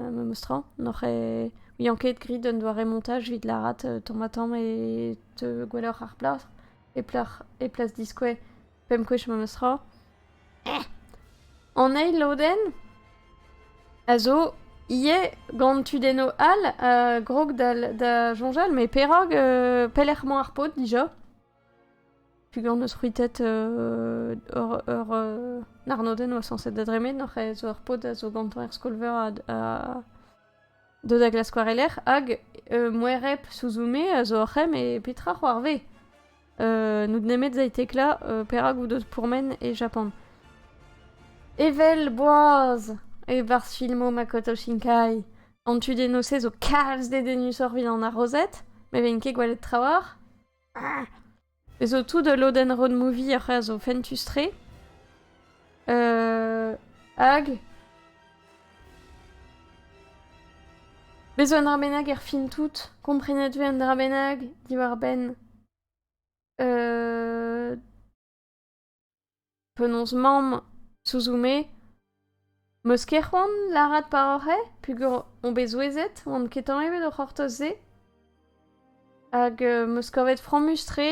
memes tra. N'oc'h eo ouian ket grit un doare montaj evit lârat tamm-ha-tamm e teu gwelloc'h ar plac'h. e plac'h, e plas diskouez, pemp gwech memes tra. An eil lodenn a zo ivez gant tudennoù all a grog da, da soñjal, met perak, euh, pelec'h emañ ar paotr dija? Pugant eus c'hwitet euh, ur, ur euh, arnodenn oa sañset da dremen, oc'h ez zo ar paotr a zo gantañ er skol-veur a, a, Deuet da glask war e lerc'h hag uh, moereb Suzume a zo oc'h em e petra c'hoarvez? Uh, n'out nemet zaitecla uh, perak out deus pourmen e Japan. Evel boaz! E-barzh filmo Makoto Shinkai, an tu denose zo kalz dedennusoc'h evit an arrozet, me vein ket gwelet trawalc'h. Ah! Ez zo tout ul lodenn road-movie a c'haso fentus-tre. hag... Bez' zo un dra bennak er fin tout. Komprenet vez un dra bennak diwar-benn... Penaos 'maomp souzou-me 'meus ket c'hoant lâret par oc'h eo peogwir on bet souezhet 'oan ket tañva d'o c'hortoz-se hag 'meus kavet frammus-tre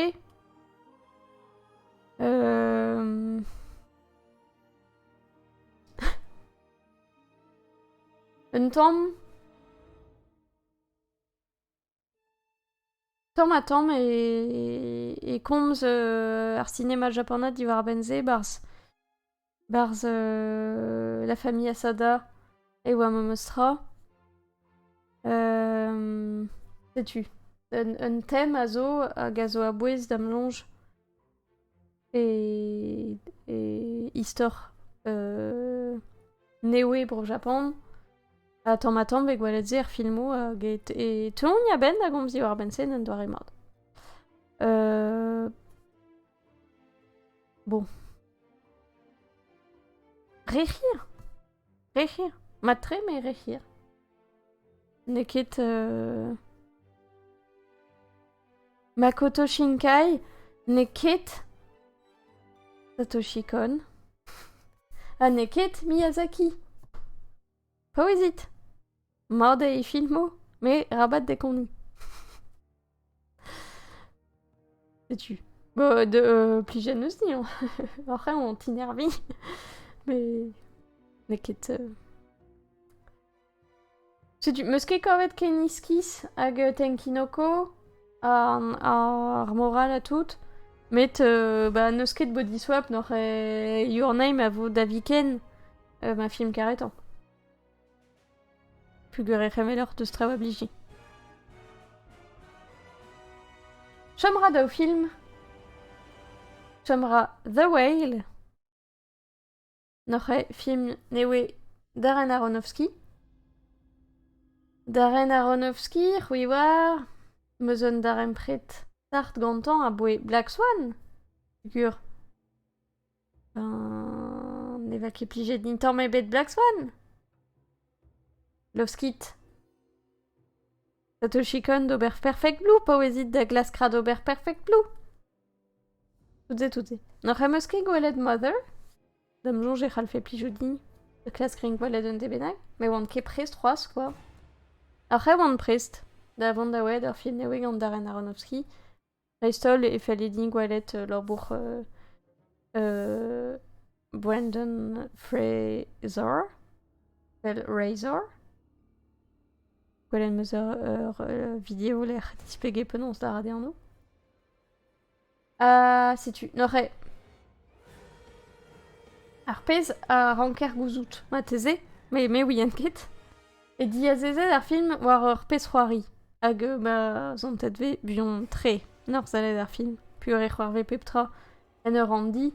un tamm Tamm-ha-tamm e, e komz euh, ar cinéma japanat diwar-benn se barzh barzh euh, La famille Asada et Wamamoto Tra. Euh, setu un, un tem a zo hag a zo a-bouez da'm soñj e, e istor euh, newe bro Japan. Ha tamm-ha-tamm bet gwelet se er filmoù get e teuont a-benn da gomz diwar-benn se un doare mat. Euh, bon. Re hir Rec'hier Mat-tre, me rec'hier. N'eo ket... euh, Makoto Shinkai n'eo ket Satoshi Kon. Ha n'eo ket Miyazaki. Paouezit Mat eo e filmoù, met rabat dekoniñ. Setu. Bon, de, euh, plus jeune aussi, hein. Après, on t'innervit. Mais... N'es ket... euh, Setu, meus ket kavet ken iskis hag euh, Tenkinoko an- ar moral ha tout. Met euh, bah, n'eus ket Body Swap nor euh, Your Name a vo da viken euh, ma film karetañ. Peogwir e c'hemeloc'h deus traoù a blije. Chom ra daou film. Chom ra The Whale. Noc'h eo film ne oe Darren Aronofsky. Darren Aronofsky, c'hwi oar, meus un darempred start gantañ aboe Black Swan, gwir. Ben... ne va ket plijet din tamm ebet Black Swan? Love Skit? Satoshi Kon d'ober Perfect Blue, paouezit da Glass Crad ober Perfect Blue. Toutes et toutes. N'oc'h em eus ket gwelet Mother? D'am soñj e c'hallfe plijout din. The Class Green gwelet un debennak? Me oan ket prest c'hoazh, quoi. Oc'h e oan prest. Da vont da welet ur film nevez gant Darren Aronofsky. dreist-holl e felle din gwelet labour Brandon Fraser, fel Razor. Gwelet 'm eus ur video lec'h displeget penaos lâret eo anv. Ha setu, neuze. Ar pezh a ranker gouzout marteze, me me ouien ket. E diazezet ar film war ur pezh-c'hoari, hag euh, ma zontet vez buan-tre norzhalet ar film, pur e c'hoarvez pep tra en ur ranndi,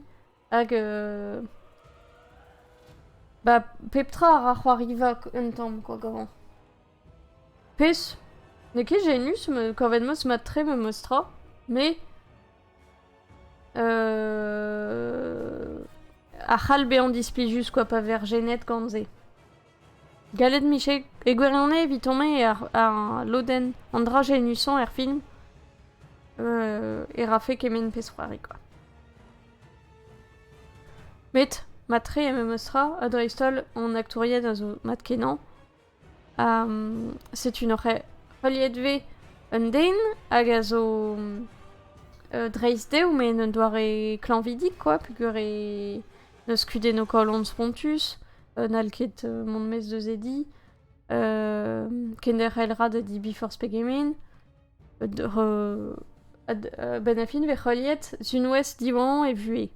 hag euh, ba pep tra a ra c'hoariva un tamm quoi gavan. Pezh n'eo ket genius kavet meus mat-tre memes tra, mais euh, a c'hall bezañ displij juste quoi pa ver genet gant se. Gallet 'mije e gwirionez evit-omp eo ar lodenn, an dra-se nusañ er film e rafe kement pezh-c'hoari kwa. Met mat-tre memes tra ha dreist-holl hon aktouried a zo mat-kenañ. setu n'oc'h heuliet 'vez un den hag a zo dreist dezho met en un doare klañvidik kwa peogwir e N'eus kudenn o kalon spontus, n'hall ket mont maez deus e di, kenderc'hel 'ra da di Before Peggamin. A-benn ar fin vez heuliet Sunwest diwan e vuhez.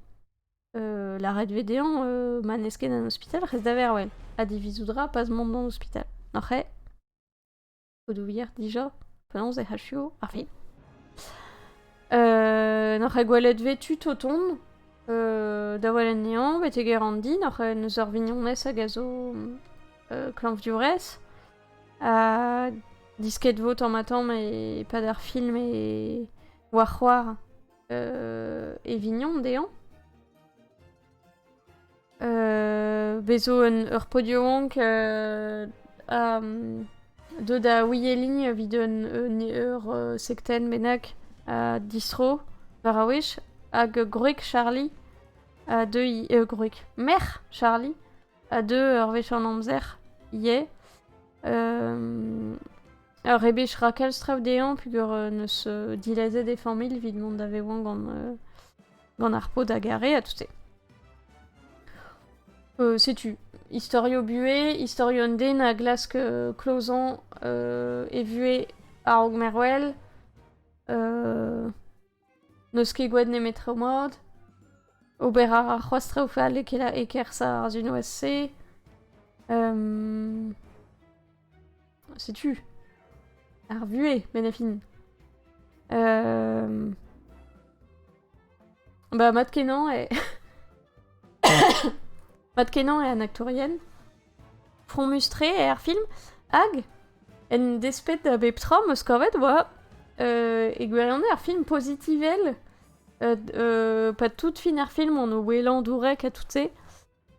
Lâret vez dezhañ ma n'ez ket an ospital, rez da vervel. Ha divizout 'ra pas mont d'an ospital. Oc'h eo? Podoùier dija, penaos e c'hallfio ar fin euh, N'oc'h ket gwelet vetu Toton euh, da welet nehañ betek Erandi, n'oc'h n'eus ur vignonez hag a zo euh, klañvdiourez ha disket vo tamm-ha-tamm e-pad ar film e war c'hoar e vignon dezhañ. Bez' zo ur podiamank ha deuet da oueliñ evit ur sektenn bennak a distro war ar wech hag gwreg Charlie a deuy... gwreg merc'h Charlie a deu ur wech an amzer ivez. Ur rebech rakell strav dezhañ peogwir 'neus dilazet e familh evit mont da vevañ gant gant ar pod a garé à tout euh, Setu, istorio buhez, istorio un den a glask euh, Clozan euh, e vuhez a-raok mervel, euh, n'eus ket gwed nemet tre moad, ober a ra c'hoazh tre o fal e, e kerz ar zunwazh-se, um, Setu. Ar vuez, Benafin. Euh... Bah, Matt Kenan est... Matt Kenan est un actorienne. Front mustré et air film. Hag, en despet da bep tra meus kavet oa euh, e gwirionez ar film positivel euh, euh, pas tout fin ar film on o welan dourek ha tout se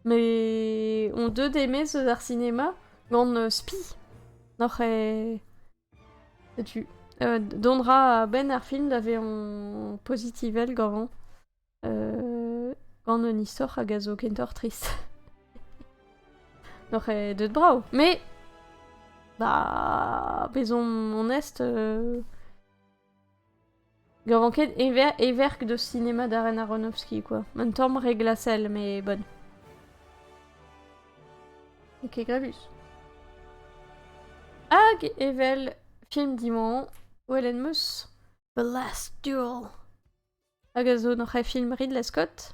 Mais on deuet aimé eus ar cinéma gant euh, spi. N'oc'h e... Setu. Euh, Dondra a-benn ar film da vezañ pozitivel gavan. Euh, gant un istor hag a zo kentoc'h trist. N'oc'h e deut brav. Mais... Bah... Bezomp onest... Euh... Ne ran ket heverk deus sinema Darren Aronofsky kwa, un tamm re glasel mais bonne. Ok, Gravus. Hag evel film dimañ, Helen Moss, The Last Duel. Hag a zo noc'h e film Ridley Scott.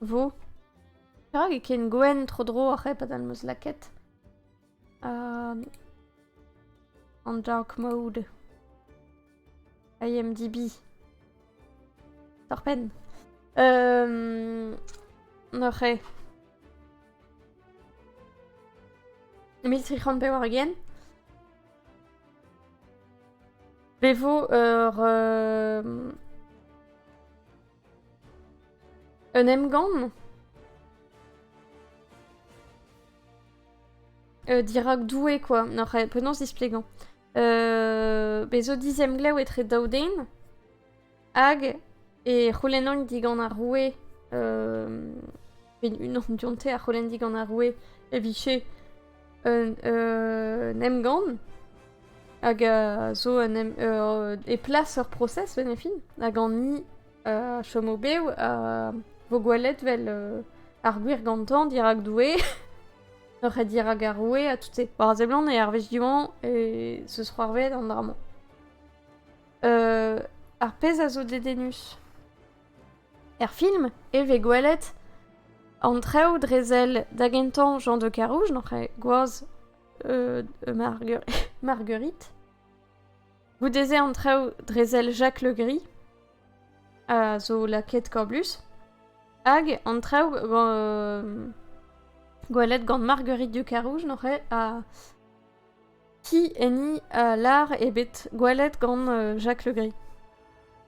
Vo. Perak e ken gwenn tro-dro ar c'hep hag meus lakaet? Um, an dark mode. IMDb. Torpen. Um, Noc'h eo. 1300 pevar again. Bevo ur... Euh, Un emgann euh, Dirak Doue, quoi. Non, penaos displegañ euh, Bez zo dizemglev etre daoudeen hag e c'houlennomp digant ar roue euh, Evit unan dionte a c'houlenn digant ar roue e vije un, un emgann hag a zo un em, euh, e plas ur procès benefin hag an ni a chom o-bev a vo gwelet vel euh, ar gwir gantañ dirak Doue ur ret dirak ar roue ha tout se. War a seblant e arvez Diwan e se sera arvet an dra-mañ. Euh, ar pezh a zo dedennus Er film e vez gwelet an traoù dre sell da gentañ Jean de Carouge, n'oc'h ket gwaz euh, Marguerite. Goude-se an traoù dre sell Jacques Le Gris a zo la quête Coblus. Hag an traoù euh, gwelet gant Marguerite du Carouge, n'oc'h ket, a Ki enni a lar eo bet gwelet gant Jacques Le Gris.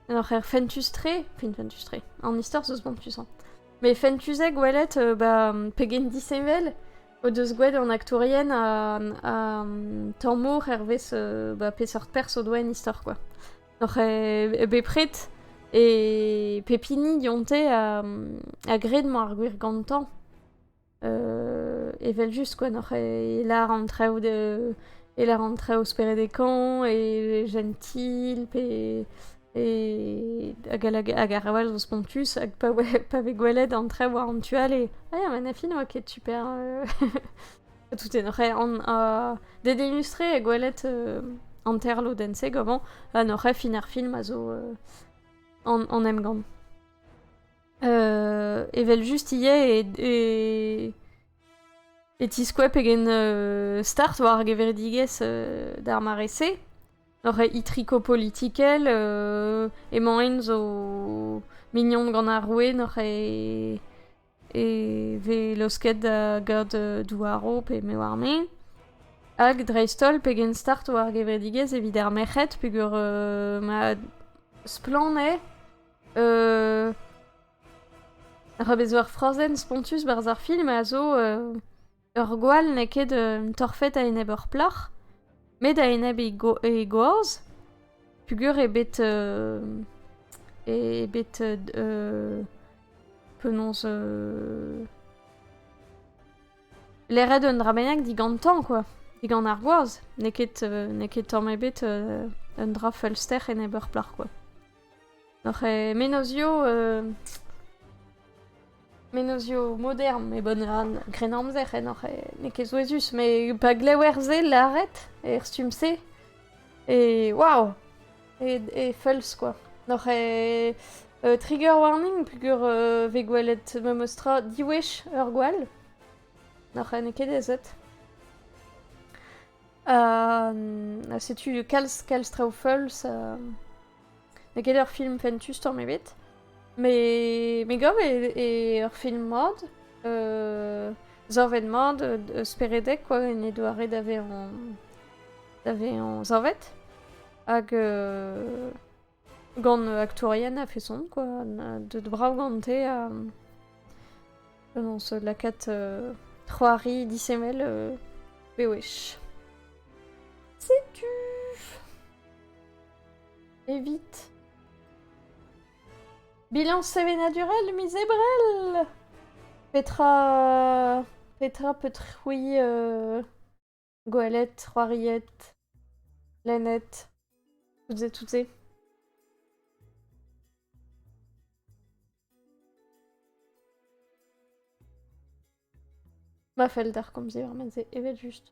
En hor c'her fentus-tre, fin fentus-tre, an istor zo spont puissant. Mais fentus eo gwelet euh, bah, pegen disheñvel o deus gwelet an aktourien an tamour hervez euh, bah, peseurt pers o doa en istor, quoi. Oc'h eo bepred e pep hini dionte a, a gred mañ ar gwir gantañ. evel-just quoi, n'oc'h e lar an traoù de... e lar an traoù speredekañ e jentil pe e... hag ar all zo spontus hag pa oe pa vez gwelet an traoù war an tu all e ah ya ma na fin oa ket super tout e n'oc'h an d'e delustre e gwelet hanterlodenn-se gomañ ha n'oc'h fin ar film a zo an emgann. Euh, evel-just ivez e, e, e tiskoa pegen euh, start war ar gevredigezh euh, d'ar mare-se. Oc'h itriko politikel, euh, emaint zo mignon gant ar roue n'oc'h e, e ve laosket da gad euh, douaro pe me war-me. Hag dreist-holl pegen start war ar gevredigezh evit ar merc'hed peger euh, ma splann eo Euh... Ra vezo ar frazenn spontus 'barzh ar film a zo euh, ur gwall n'eo ket un torfed a-enep ur plac'h, met a-enep he, go he gwaz, pugur eo bet... euh, eo bet... euh, penaos... euh, leret un dra bennak digantañ, quoi. Digant ar gwaz. N'eo ket, euh, n'eo ket tamm ebet euh, un dra feulster enep ur plac'h, quoi. Oc'h e menozioù euh, menozioù modern e bun ran krennamzer en oc'h e- n'eo ket souezhus met pa glever se lâret er stumm-se e waw e, e feulz quoi. N'oc'h e euh, trigger warning peogwir euh, vez gwelet memes tra diwech ur gwall. N'oc'h n'eo ket aezet. setu kalz, kalz traoù feuls. N'eo ket ur film fentus tamm ebet. Mais, me gav e, ur film mat. Euh, zorvet mat, speredek, quoi, en e doare da vezañ, da vezañ zorvet. Hag euh, Gant aktourien a-feson, quoi. Deut brav gante ha... Penaos lakaat c'hoari disheñvel bewech. Setu... Evit... Bilan sevenadurel, miz Ebrel! Petra... Petra peut-c'hwi... Gwelet, c'hoariet, lennet, toutes et toutes. Ma fell d'ar komzi war ma ze, evel just.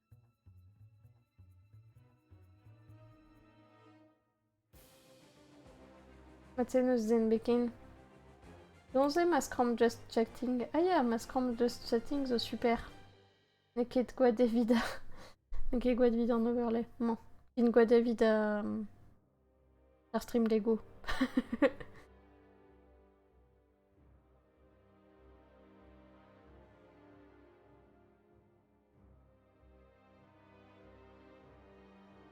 Mat eo eus den bet ken. Don eo ma skramm Just Chatting. Ah ya, ma skramm Just Chatting zo super. N'eo ket gwad evit... N'eo ket gwad evit an overlay, mañ. Int gwad evit uh, ar stream Lego.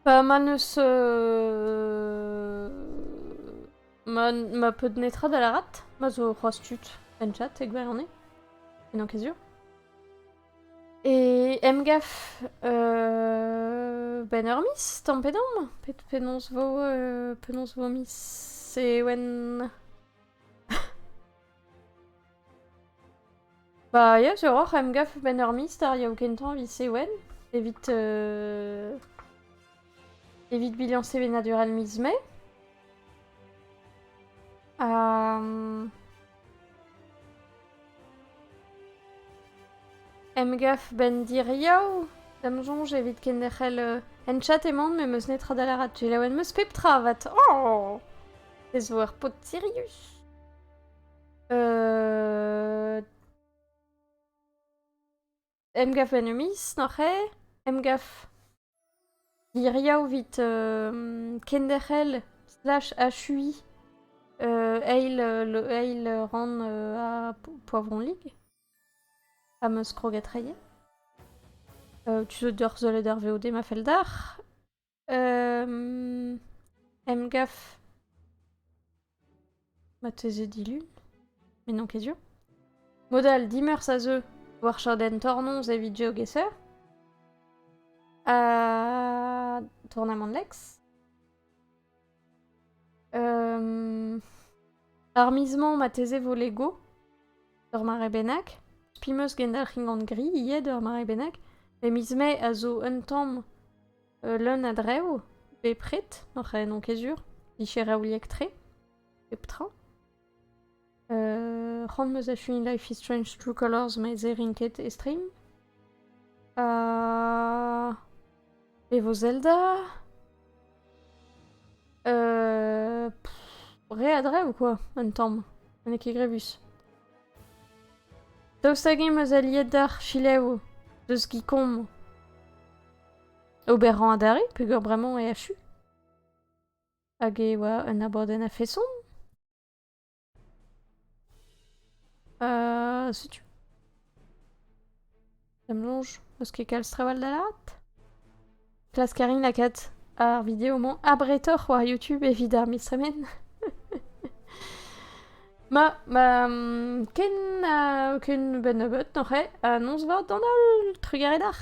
Bah, ma neus... Euh... Ma, ma peud netra da lârat, ma zo c'hoazh tud en chat e gwirionez, en enkezioù. E emgaf euh, ben ur mis, tamm pe damm? Pet penaos vo, euh, penaos vo mis Ewen... Bah ya, j'ai roc'h em gaf benn ur mister yeo kentañ evit Sewen, evit euh, evit bilañs sevenadurel miz Mae. Um, Emgav 'benn diriaou da'm soñj evit kenderc'hel ent-chat emaon met 'meus netra da lâret. Selaouet 'meus pep tra 'vat. Oh! Ez vo ur paotr sirius. Euh... Emgav en un miz, noc'he? Emgav hiriv evit euh, kenderc'hel slash achuiñ euh, eil, euh, le, eil ran euh, à Po- Poivron Ligue, fameuse kroget reier. Euh, tu se deur zelet ar VOD ma fel d'ar. Emgav marteze dilun, mais non ket sur. Modal dimeurs a zeu war chadenn tornoz evit GeoGuessr. Ha tournamant Lex. Ar miz-mañ, marteze 'vo Lego, ur mare bennak. Spi 'm eus gendalc'hin gant gri ivez d'ur mare bennak. Met miz Mae a zo un tamm leun a drev bepred, n'en c'h n'on ket sur. Micher raouliek-tre, pep tra. C'hoant 'm eus da fuiñ Life is Strange True Colors met se rin ket e stream. E vo Zelda? re a dre ou quoi, un tamm? N'eo ket grevus. Daoust hag-eñ 'm eus aliet d'ar fileoù deus Gicom? Ober rañ adarre peogwir bremañ e achu? Hag e oa un abadenn a-feson? Euh, setu. Ça me longe. Eus ket kalz trawal da laret? Klask a rin lakaat ar video-mañ abretoc'h war YouTube evit ar miz tremen. ma, ma mm, ken uh, ken ben nebeut noc'h eo, ha noz vat d'an holl, trugarez d'ar.